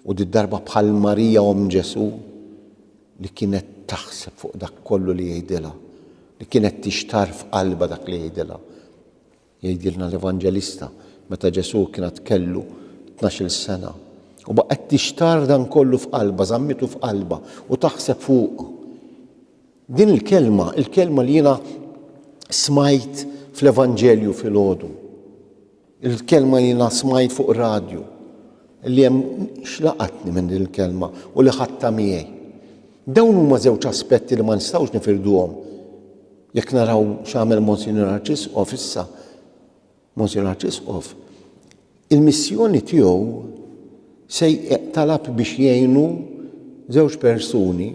u did-darba bħal Marija omm Ġesù, li kienet taħseb fuq dak kollu li jgħidilha, li kienet tixtarr f'qalbha dak li jgħidilha. Jgħidilna l-Evanġelista, meta Ġesù kien għad kellu tnax-il sena, u baqgħet tixtarr dan kollu f'qalbha, żammitu f'qalbha u taħseb fuqu. Din il-kelma, il-kelma li jiena smajt fl-Evanġelju filgħodu, il-kelma li jiena smajt fuq radju, li hemm xlaqatni minn din il-kelma u li ħadta miegħi. Dawn huma żewġ aspetti li ma nistgħux nifirduhom. Jekk naraw x'għamel Monsignor Arċisqof issa, Monsinjur Arċisqof, il-missjoni tiegħu se talab biex jgħinu żewġ persuni,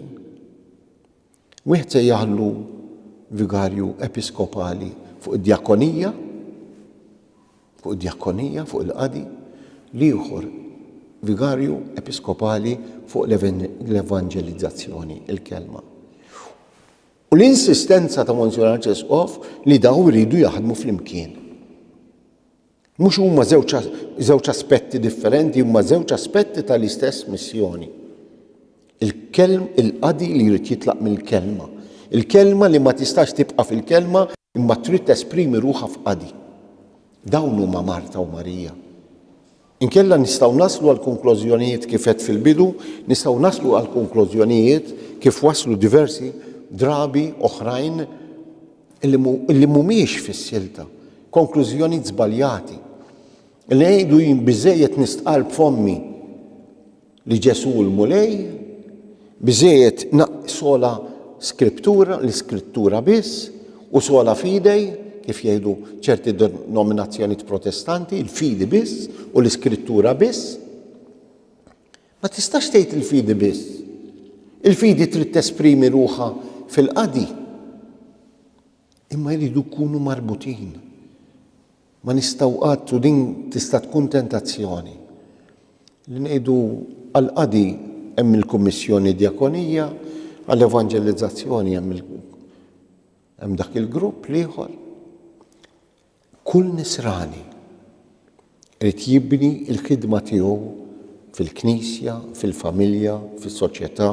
wieħed se jaħlu vigarju episkopali fuq id-djakonija, fuq id-djakonija, fuq il-qadi, l-ieħor vigarju episkopali fuq l-evanġelizzazzjoni, il-kelma. U l-insistenza ta' Monsinjur Arċisqof li dawn iridu jaħdmu flimkien. Mhux huma żewġ aspetti differenti, huma żewġ aspetti tal-istess missjoni. Il-kelm il-qadi li jrid jitlaq mill-kelma. Il-kelma li ma tistax tibqa' fil-kelma imma trid tesprimi ruħha f'qadi. Dawn huma Marta u Marija. Inkella nistgħu naslu għall-konklużjonijiet kif għedt fil-bidu, nistgħu naslu għall-konklużjonijiet kif waslu diversi drabi oħrajn li mhumiex fis-silta, konklużjonijiet żbaljati. Li ngħidu jien biżżejjed nistqarr b'fommi. li Ġesù hu l-Mulej, biżżejjed sola Skriptura, l-Iskrittura biss, u sola fide, kif jgħidu ċerti denominazzjonijiet Protestanti, il-fidi biss u l-Iskrittura biss. Ma tistax tgħid il-fidi biss. Il-fidi trid tesprimi ruħha fil-qadi. Imma jridu jkunu marbutin. Ma nistgħu qatt, u din tista' tkun tentazzjoni, li ngħidu għall-qadi hemm il-Kummissjoni Djakonija, għall-Evanġelizzazzjoni hemm il hemm dak il-grupp l-ieħor. Kull nisrani irid jibni l-ħidma tiegħu fil-Knisja, fil-familja, fis-soċjetà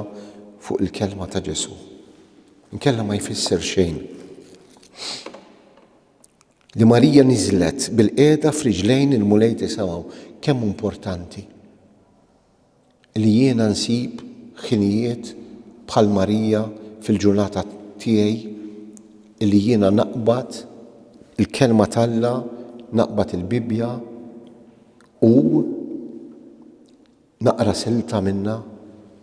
fuq il-kelma ta' Ġesù. Inkella ma jfisser xejn. li Marija niżlet bilqiegħda f'riġlejn il-Mulej tisimgħu kemm hu importanti li jiena nsib ħinijiet bħal Marija fil-ġurnata tiegħi li jiena naqbad il-Kelma t'Alla, naqbad il-Bibbja u Naqra silta minnha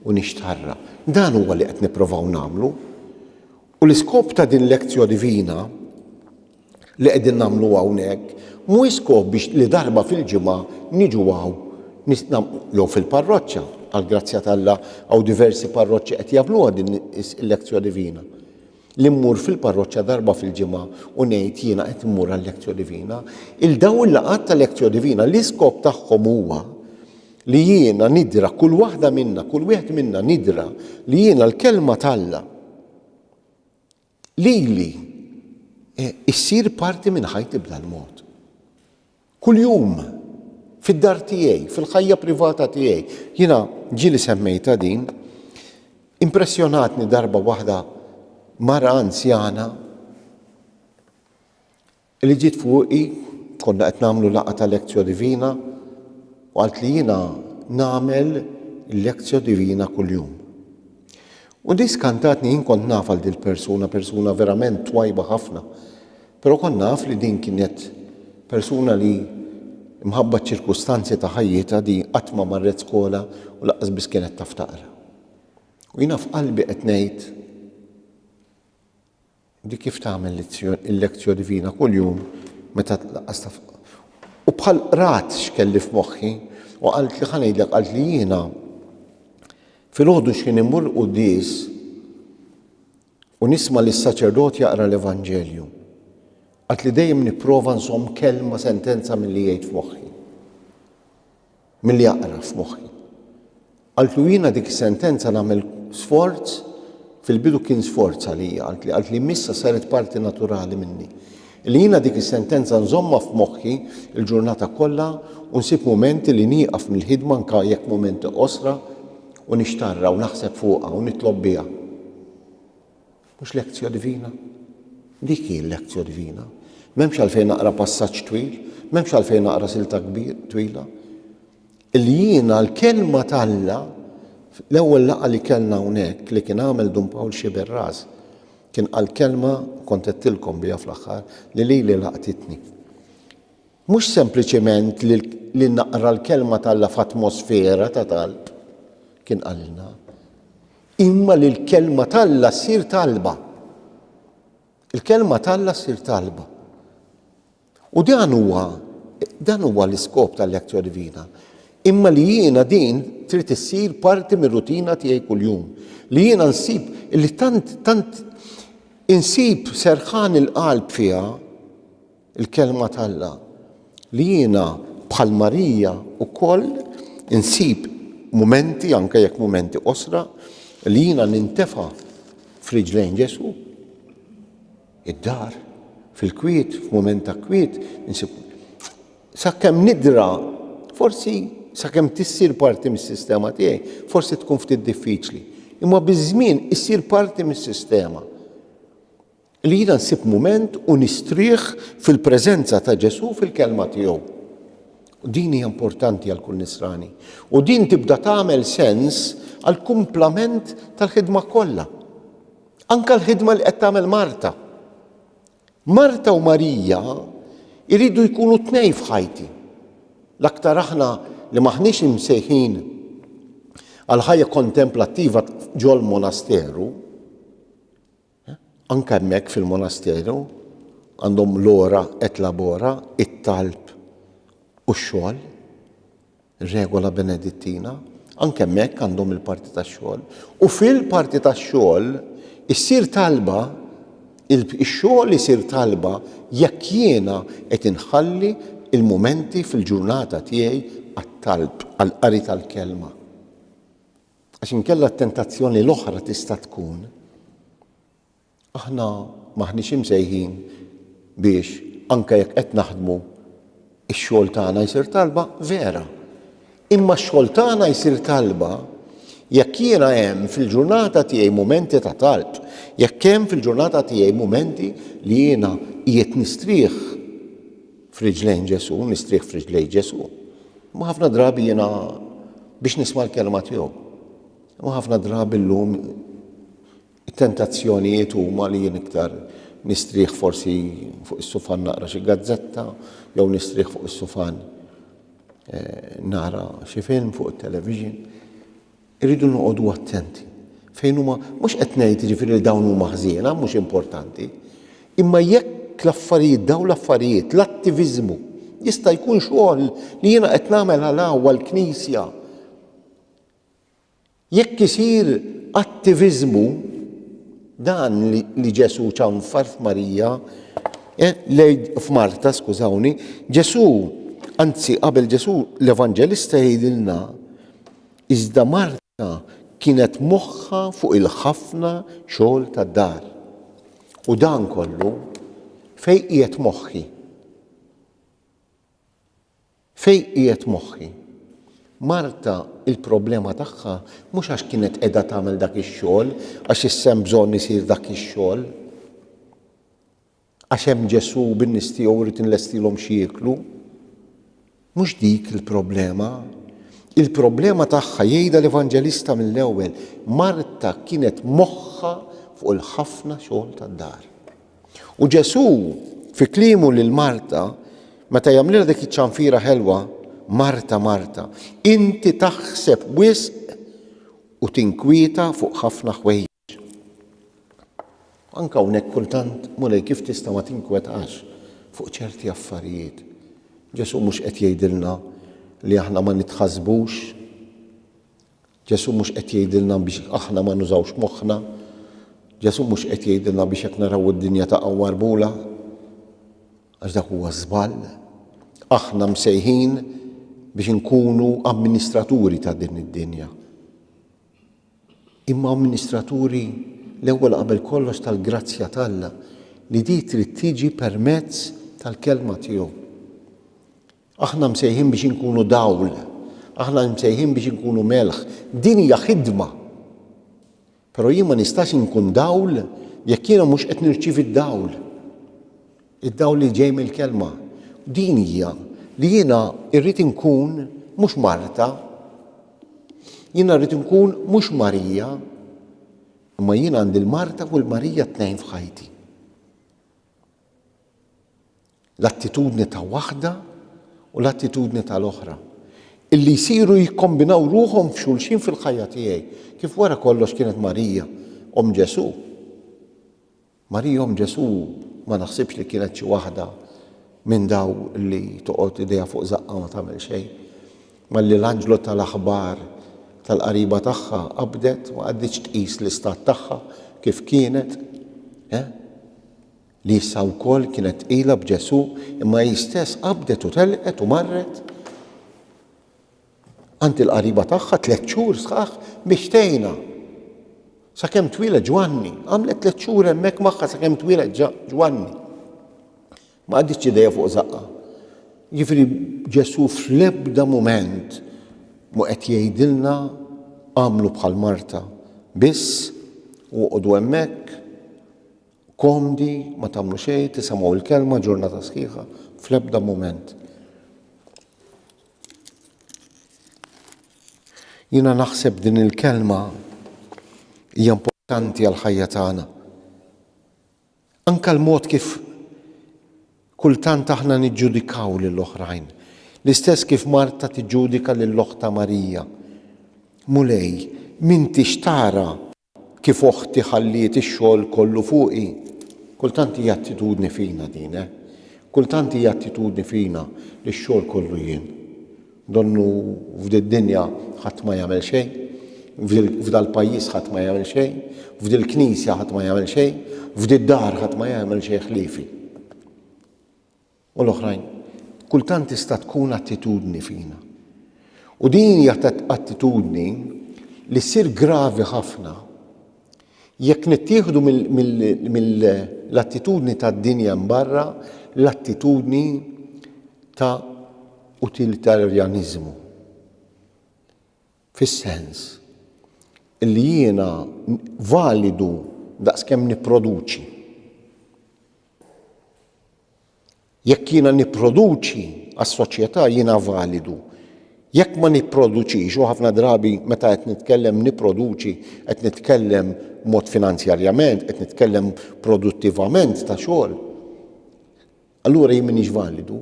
u nixtarra. Dan huwa li qed nipprovaw nagħmlu. U l-iskop ta' din Lectio Divina li qegħdin nagħmlu hawnhekk mhuwiex skop biex li darba fil-ġimgħa niġu hawn jew fil-parroċċa, għall-grazzja t'Alla hawn diversi parroċċi qed jagħmluha din il-Lectio Divina. li mmur fil-parroċċa darba fil-ġimgħa u ngħid jiena qed immur għal-Lectio Divina, il-daw il-laqgħat ta' Lectio Divina l-iskop tagħhom huwa li jiena nidra kull waħda minna, kull wieħed minna nidra li jiena l-kelma t'Alla lili issir parti minn ħajti b'dal-mod. Kuljum, fid-dar tiegħi, fil-ħajja privata tiegħi. Jiena ġieli semmejtha din. Impressjonatni darba waħda mara anzjana li ġiet fuqi, konna qed nagħmlu laqgħa ta' Lectio Divina, u qaltli jiena nagħmel il-Lectio Divina kuljum. U di skantantni jien kont naf għal dil-persuna persuna verament twajba ħafna pero kont naf li din kienet persuna li mħabba ċ-ċirkustanzi ta' ħajjitha di qatt ma marret skola u laqqas biss kienet taf taqra. U jiena f'qalbi qed ngħid Di kif tagħmel il-Lectio Divina kuljum meta tlaqqas ta' fuq. U bħal qrat x'kelli f'moħħi u qaltli ħa ngħidlek qaltli jiena filgħodu x'kien immur l-quddies u nisma' lis saċerdot jaqra l-Evanġelju. Qaltli dejjem nipprova nżomm kelma sentenza milli jgħid f'moħħi. Milli aqra f'moħħi. Qaltlu jiena dik is-sentenza nagħmel sforz, fil-bidu kien sforz għalija, qaltli, qaltli imma issa saret parti naturali minni. Li jiena dik is-sentenza nżommha f'moħħi l-ġurnata kollha u nsib mumenti li nieqaf mill-ħidma anke jekk mumenti qosra u nixtarrha u naħseb fuqha u nitlob biha. Mhux lectio divina? Dik hi l-lectio divina. M'hemmx għalfejn naqra passaġġ twil, m'hemmx għalfejn naqra silta twila. Li jiena l-kelma t'Alla l-ewwel laqgħa li kellna hawnhekk li kien għamel Dun Pawl Xiberras kien qal kelma kont qedtilkom biha fl-aħħar li lili laqtitni. Mhux sempliċement li naqra l-kelma t'Alla f'atmosfera ta' talb kien qalilna. Imma li l-Kelma t'Alla ssir talba. Il-Kelma t'Alla ssir talba. U dan huwa dan huwa l-iskop tal-lezzjoni divina. Imma li jiena din trid issir parti mir-rutina tiegħi kuljum. Li jiena nsib li tant tant insib serħan il-qalb fiha Il-Kelma t'Alla. Li jiena bħal Marija wkoll insib mumenti, anke jekk mumenti qosra, li jiena nintefa' f'riġlejn Ġesù. Id-dar, fil-kwiet, f'mument ta' kwiet, insib sakemm nidra, forsi sakemm tissir parti mis-sistema tiegħi, forsi tkun ftit diffiċli. Imma biż-żmien issir parti mis-sistema. Li jiena nsib mument u nistrieħ fil-preżenza ta' Ġesù fil-Kelma tiegħu. Din hija importanti għal kull Nisrani u din tibda tagħmel sens għall-kumplament tal-ħidma kollha. Anke l-ħidma li qed tagħmel Marta. Marta u Marija jridu jkunu tnejn f'ħajti. L-aktar aħna li m'aħniex imsejħin għal ħajja kontemplattiva ġol-monasteru, Anke hemmhekk fil-monasteru għandhom l-ora et labora, it-talb u x-xogħol, regola Benedittina, anke hemmhekk għandhom il-parti tax-xogħol. U fil-parti tax-xogħol issir talba, ix-xogħol isir talba jekk jiena qed inħalli l-mumenti fil-ġurnata tiegħi għat-talb, għall-qari tal-Kelma. Għax inkella t-tentazzjoni l-oħra tista' tkun, aħna m'aħniex imsejħin biex anke jekk qed naħdmu, ix-xogħol tagħna jsir talba, vera. Imma x-xogħol tagħna jsir talba jekk jiena hemm fil-ġurnata tiegħi mumenti ta' talb, jekk hemm fil-ġurnata tiegħi mumenti li jiena qiegħed nistrieħ, f'riġlejn Ġesù, nistrieħ f'riġlejn Ġesù. Ma ħafna drabi jiena biex nisma' l-kelma tiegħu. Ma ħafna drabi llum it-tentazzjonijiet huma li jien iktar nistrieħ forsi fuq is-sufan naqra xi gazzetta jew nistrieħ fuq is-sufan eh, nara xi film fuq it-television. Irridu noqogħdu attenti fejn huma, mhux qed ngħid jiġifieri li dawn huma ħżiena, mhux importanti, imma jekk l-affarijiet, dawn l-affarijiet, l-attiviżmu, jista' jkun xogħol li jiena qed nagħmel għal hawn għall-Knisja, jekk isir attiviżmu, dan li Ġesù ċanfar f'Marija, f'Marta, skużawni, Ġesù, anzi qabel Ġesù l-Evanġelista jgħidilna, Iżda Marta kienet moħħha fuq il-ħafna xogħol tad-dar. U dan kollu, fejn qiegħed moħħi? Fejn qiegħed moħħi? Marta il-problema tagħha mhux għax kienet qiegħda tagħmel dak ix-xogħol, għax issa hemm bżonn isir dak ix-xogħol. Għax hemm Ġesù u bin-nies tiegħu u rrid inlestilhom xi jieklu. Mhux dik il-problema. Il-problema tagħha jgħidha l-Evanġelista mill-ewwel, Marta kienet moħħha fuq il-ħafna xogħol tad-dar. U Ġesù fi kliemu lil Marta meta jagħmlilha dik iċ-ċanfira ħelwa, Marta, Marta, inti taħseb wisq u tinkwieta fuq ħafna ħwejjeġ. Anke hawnhekk kultant, Mulej, kif tista' ma tinkwetax fuq ċerti affarijiet? Ġesù mhux qed jgħidilna li aħna ma nitħassbux. Ġesù mhux qed jgħidilna biex aħna ma nużawx moħħna. Ġesù mhux qed jgħidilna biex jekk naraw id-dinja taqgħu marbula. Għax dak huwa żball. Aħna msejħin biex inkunu amministraturi ta' din id-dinja. imma amministraturi l-ewwel qabel kollox tal-grazzja t'Alla li di trid tiġi permezz tal-Kelma tiegħu. Aħna msejħin biex inkunu dawl, aħna msejħin biex inkunu melħ. Din hija ħidma. Però jien ma nistax inkun dawl jekk jiena mhux qed nirċievi d-dawl. Id-dawl li ġej mill-Kelma. Din hija, li jiena rrid inkun mhux Marta, jiena rrid inkun mhux Marija, imma jiena għandi l-Marta u l-Marija t-tnejn f'ħajti. L-attitudni ta' waħda u l-attitudni tal-oħra illi jsiru jikkombinaw ruħhom f'xulxin fil-ħajja tiegħi, kif wara kollox kienet Marija, Omm Ġesù. Marihom Ġesù ma naħsibx li kienet xi waħda minn dawn li toqgħod idejha fuq żaqqha u ma tagħmel xejn. Malli l-anġlu ta l-aħbar tal-qariba tagħha qabdet ma qagħditx tqis l-istat tagħha kif kienet, eh? Li issa wkoll kienet tqila b'Ġesù imma hi stess qabdet u telqet u marret. għand il-qariba tagħha tliet xhur sħaħ biex tgħinha sakemm twieled Ġwanni. Għamlet tliet xhur hemmhekk magħha sakemm twieled Ġwanni. Ma qaditx idejha fuq żaqqa. Ġifieri Ġesù fl-ebda mument mu qed jgħidilna għamlu bħal Marta. Biss uqogħdu hemmhekk komdi ma tagħmlu xejn, tisimgħu l-kelma ġurnata sħiħa fl-ebda mument. Jiena naħseb din il-kelma hija importanti għal ħajja tagħna. Anka l-mod kif kultant aħna niġġudikaw lil oħrajn. L-istess kif Marta tiġġudika lil oħta Marija. Mulej, minti x'tara Kif oħti ħalliet ix-xogħol kollu fuqi? Kultant hija attitudni fina din, eh. Kultant hija attitudni fina li x-xogħol kollu jien. Donnu f'did-dinja ħadd ma jagħmel xejn, f'dal-pajjiż ħadd ma jagħmel xejn, f'dil-knisja ħadd ma jagħmel xejn, f'did-dar ħadd ma jagħmel xejn ħliefi. u l-oħrajn, kultant tista' tkun attitudni fina. U din hija attitudni li ssir gravi ħafna jekk nittieħdu mill-attitudni tad-dinja mbarra l-attitudni ta' utilitarjaniżmu. Fis-sens li jiena validu daqskemm nipproduċi. Jekk jiena nipproduċi għas-soċjetà jiena validu. Jekk ma nipproduċix, u ħafna drabi meta qed nitkellem nipproduċi qed nitkellem mod finanzjarjament, qed nitkellem produttivament ta' xogħol, Allura jien m'iniex validu.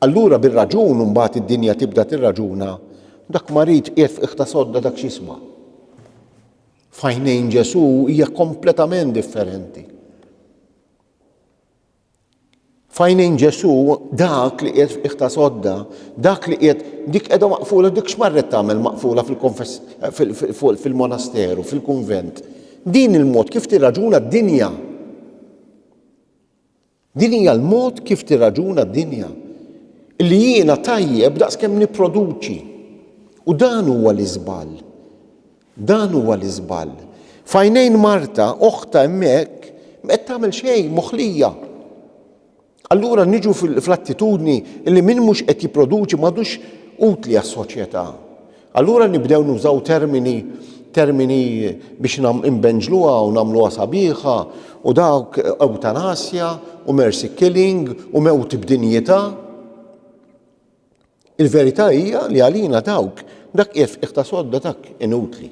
Allura bir-raġun imbagħad id-dinja tibda tirraġuna, dak marid qiegħed f'qiegħ ta' sodda dak x'jisma'. F'għajnejn Ġesù hija kompletament differenti. F'għajnejn Ġesù dak li qiegħed f'qiegħ ta' sodda, dak li qiegħed dik qiegħda maqfula dik x'marret tagħmel maqfula fil-monasteru, fil-kunvent. Din il-mod kif tirraġuna d-dinja. Din hija l-mod kif tirraġuna d-dinja, li jiena tajjeb daqskemm nipproduċi. U dan huwa l-iżball. Dan huwa l-iżball. F'għajnejn Marta, oħtha hemmhekk ma qed tagħmel xejn, moħlija. Allura niġu fl-attitudni li min mhux qed jipproduċi m'għadux utli għas-soċjetà. Allura nibdew nużaw termini termini biex imbenġluha u nagħmluha sabiħa u dawk eutanasja u mercy killing u mewt b'dinjità. Il-verità hija li għalina dawk dak qiegħed f'qiegħ ta' sodda dak inutli.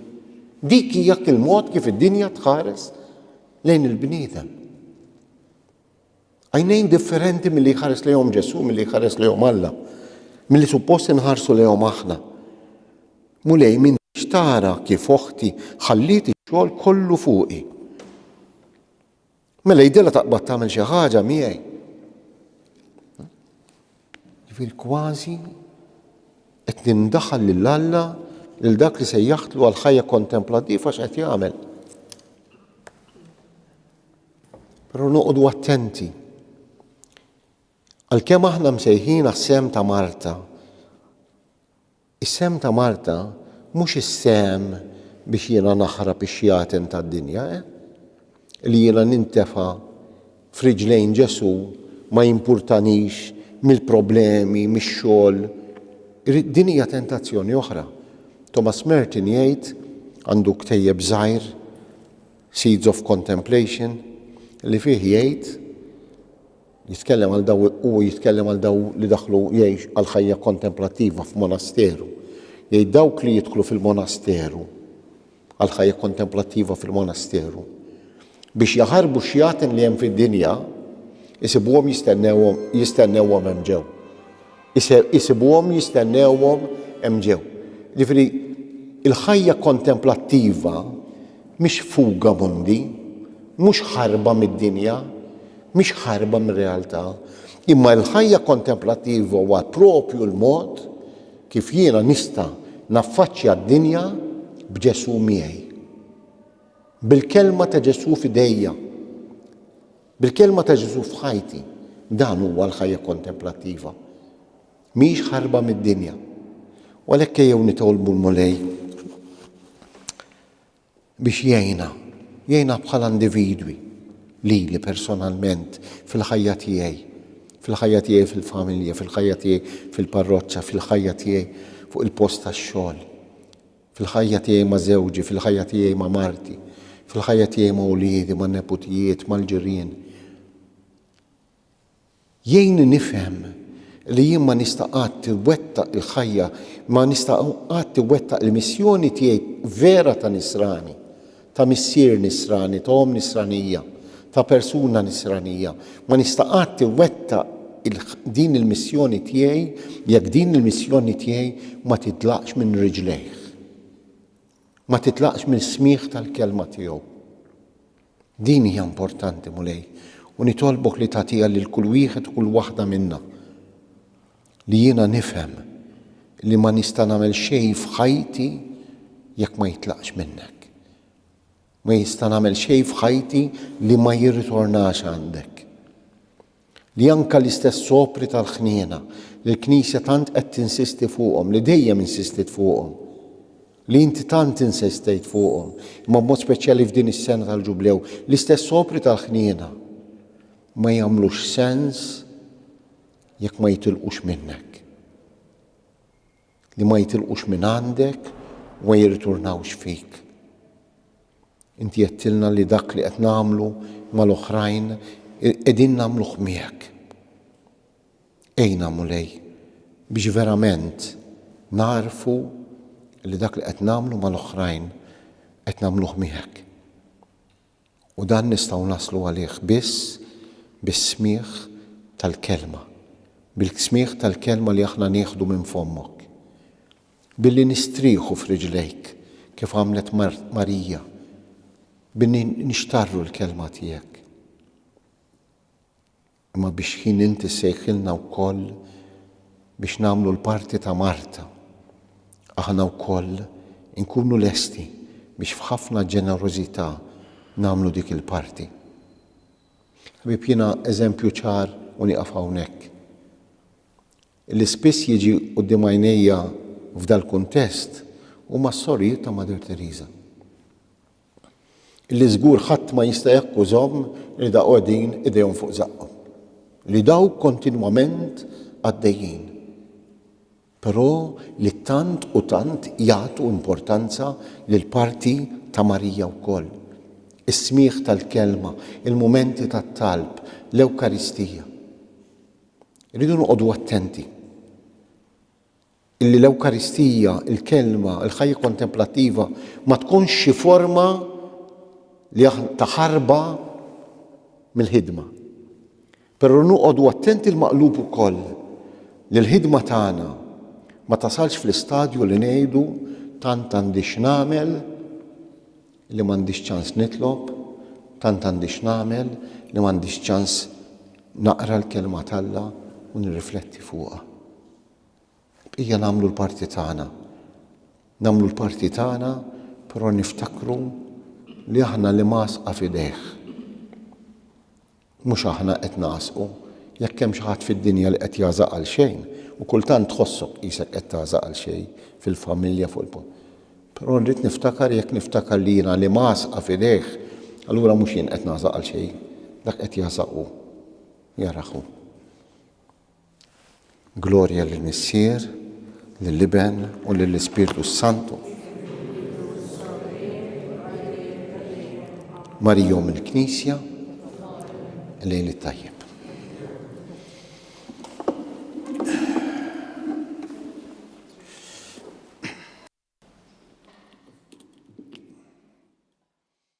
Dik hija il-mod kif id-dinja tħares lejn il-bniedem. Għajnejn differenti milli jħares lejhom Ġesù, milli jħares lejhom Alla, milli suppost inħarsu lejhom aħna. Mulej minn xtara kif oħti ħalliet ix-xogħol kollu fuqi. Mela jidilha taqbad tagħmel xi ħaġa miegħi. Ġifier kważi qed nindaħal lil Alla lil dak li se jaħtlu għal ħajja kontemplattiva x'qed jagħmel. Però noqogħdu attenti. Għalkemm aħna msejħin għas-sehem ta' Marta, is-sehem ta' Marta mhux is-sehem biex jiena naħrab ix-xjaten tad-dinja, eh? Li jiena nintefa' f'riġlejn Ġesù ma jimpurtanix mill-problemi, mix-xogħol. Din hija tentazzjoni oħra. Thomas Merton jgħid, għandu ktejjeb żgħir, Seeds of Contemplation, li fih jgħid, jitkellem għal daw, u jitkellem għal daw li daħlu jgħix għal ħajja kontemplattiva f'monasteru. Jgħid dawk li jidħlu fil-monasteru, għal ħajja kontemplattiva fil-monasteru, biex jaħarbu xjaten li hemm fid-dinja, isibuhom jistennewhom jistennewhom hemm ġew. Isibuhom jistennewhom hemm ġew. Jiġifieri l-ħajja kontemplattiva mhix fuga mundi, mhux ħarba mid-dinja, mhix ħarba mir-realtà, imma l-ħajja kontemplattiva huwa proprju l-mod kif jiena nista' naffaċċja d-dinja b'Ġesù miegħi. Bil-kelma ta' Ġesù f'idejja. Bil-Kelma ta' Ġesù f'ħajti, dan huwa l-ħajja kontemplattiva. Mhijiex ħarba mid-dinja. U għalhekk ejjew nitolbu l-Mulej biex jgħinna, jgħinna bħala individwi li li personalment fil-ħajja tiegħi, fil-ħajja tiegħi fil-familja, fil-ħajja tiegħi fil-parroċċa, fil-ħajja tiegħi fuq il-post tax-xogħol. Fil-ħajja tiegħi ma' żewġi, fil-ħajja tiegħi ma' marti, fil-ħajja tiegħi ma' uliedi, ma' neputijiet, mal-ġirien. Jgħinni nifhem li jien ma nista' qatt iwettaq il-ħajja, ma nista' qatt iwettaq il-missjoni tiegħi vera ta' nisrani. ta' missier nisrani, ta' omm nisranija, ta' persuna nisranija. Ma nista' qatt iwettaq din il-missjoni tiegħi jekk din il-missjoni tiegħi ma titlaqx minn riġlejh, ma titlaqx mill-smigħ tal-kelma tiegħu. Din hija importanti, Mulej, u nitolbok li tagħtiha lil kull wieħed u kull waħda minna. Li jiena nifhem li ma nista' nagħmel xejn f'ħajti jekk ma jitlaqx minnek. Ma jista' nagħmel xejn f'ħajti li ma jirritornax għandek. Li anke l-istess sopri tal-ħniena li l-Knisja tant qed tinsisti fuqhom, li dejjem insistiet fuqhom, li inti tant insistejt fuqhom, imma b'mod speċjali f'din is-sena tal-Ġublew, l-istess sopri tal-ħniena ma jagħmlux sens Jekk ma jitilqux minnek. Li ma jitilqux minn għandek u ma jirriturnawx fik. Inti għedtilna li dak li qed nagħmlu mal-oħrajn qegħdin nagħmluh miegħek. Għinna, Mulej, biex verament nagħrfu li dak li qed nagħmlu mal-oħrajn qed nagħmluh miegħek. U dan nistgħu naslu għalih biss bis-smigħ tal-Kelma, bil-smigħ tal-Kelma li aħna nieħdu minn fommok. Billi nistrieħu f'riġlejk kif għamlet Marija, billi nixtarru l-Kelma tiegħek. Imma biex ħin int issejħilna wkoll biex nagħmlu l-parti ta' Marta, aħna wkoll inkunu lesti biex f'ħafna ġenerożità nagħmlu dik il-parti. Ħbieb jiena eżempju ċar u nieqaf hawnhekk. Li spiss jiġi quddiem għajnejja f'dal-kuntest huma s-sorijiet ta' Mother Teresa. li żgur ħadd ma jista' jakkużahom li da qogħdin idejhom fuq żaqqhom, li dawk kontinwament għaddejjin, però li tant u tant jagħtu importanza lill-parti ta' Marija wkoll, is-smigħ tal-Kelma, il-mumenti tat-talb, l-Ewkaristija. Irridu noqogħdu attenti. Illi l-Ewkaristija, il-Kelma, il-ħajja kontemplattiva ma tkunx xi forma li aħna ta' ħarba mill-ħidma. Però noqogħdu attenti l-maqlub ukoll li l-ħidma tagħna ma tasalx fl-istadju li ngħidu tant għandi x'nagħmel li m'għandix ċans nitlob, tant għandi x'nagħmel li m'għandix ċans naqra l-Kelma t'Alla u nirrifletti fuqha. Ejja nagħmlu l-parti tagħna. Nagħmlu l-parti tagħna però niftakru li aħna l-imgħasqa f'idejh. Mhux aħna qed nagħsqu. Jekk hemm xi ħadd fid-dinja li qed jagħżaq għal xejn, u kultant tħossok qisek qed tagħżaq għal xejn fil-familja fuq il-post. Però nrid niftakar jekk niftakar li jiena l-imgħasqa f'idejh, allura mhux jien qed nagħżaq għal xejn, dak qed jagħżaq hu. Jarah hu. Glorja lill-Missier, lill-Iben, u lill-Ispirtu s-Santu. Marijom il-Knisja, lejl it-tajjeb.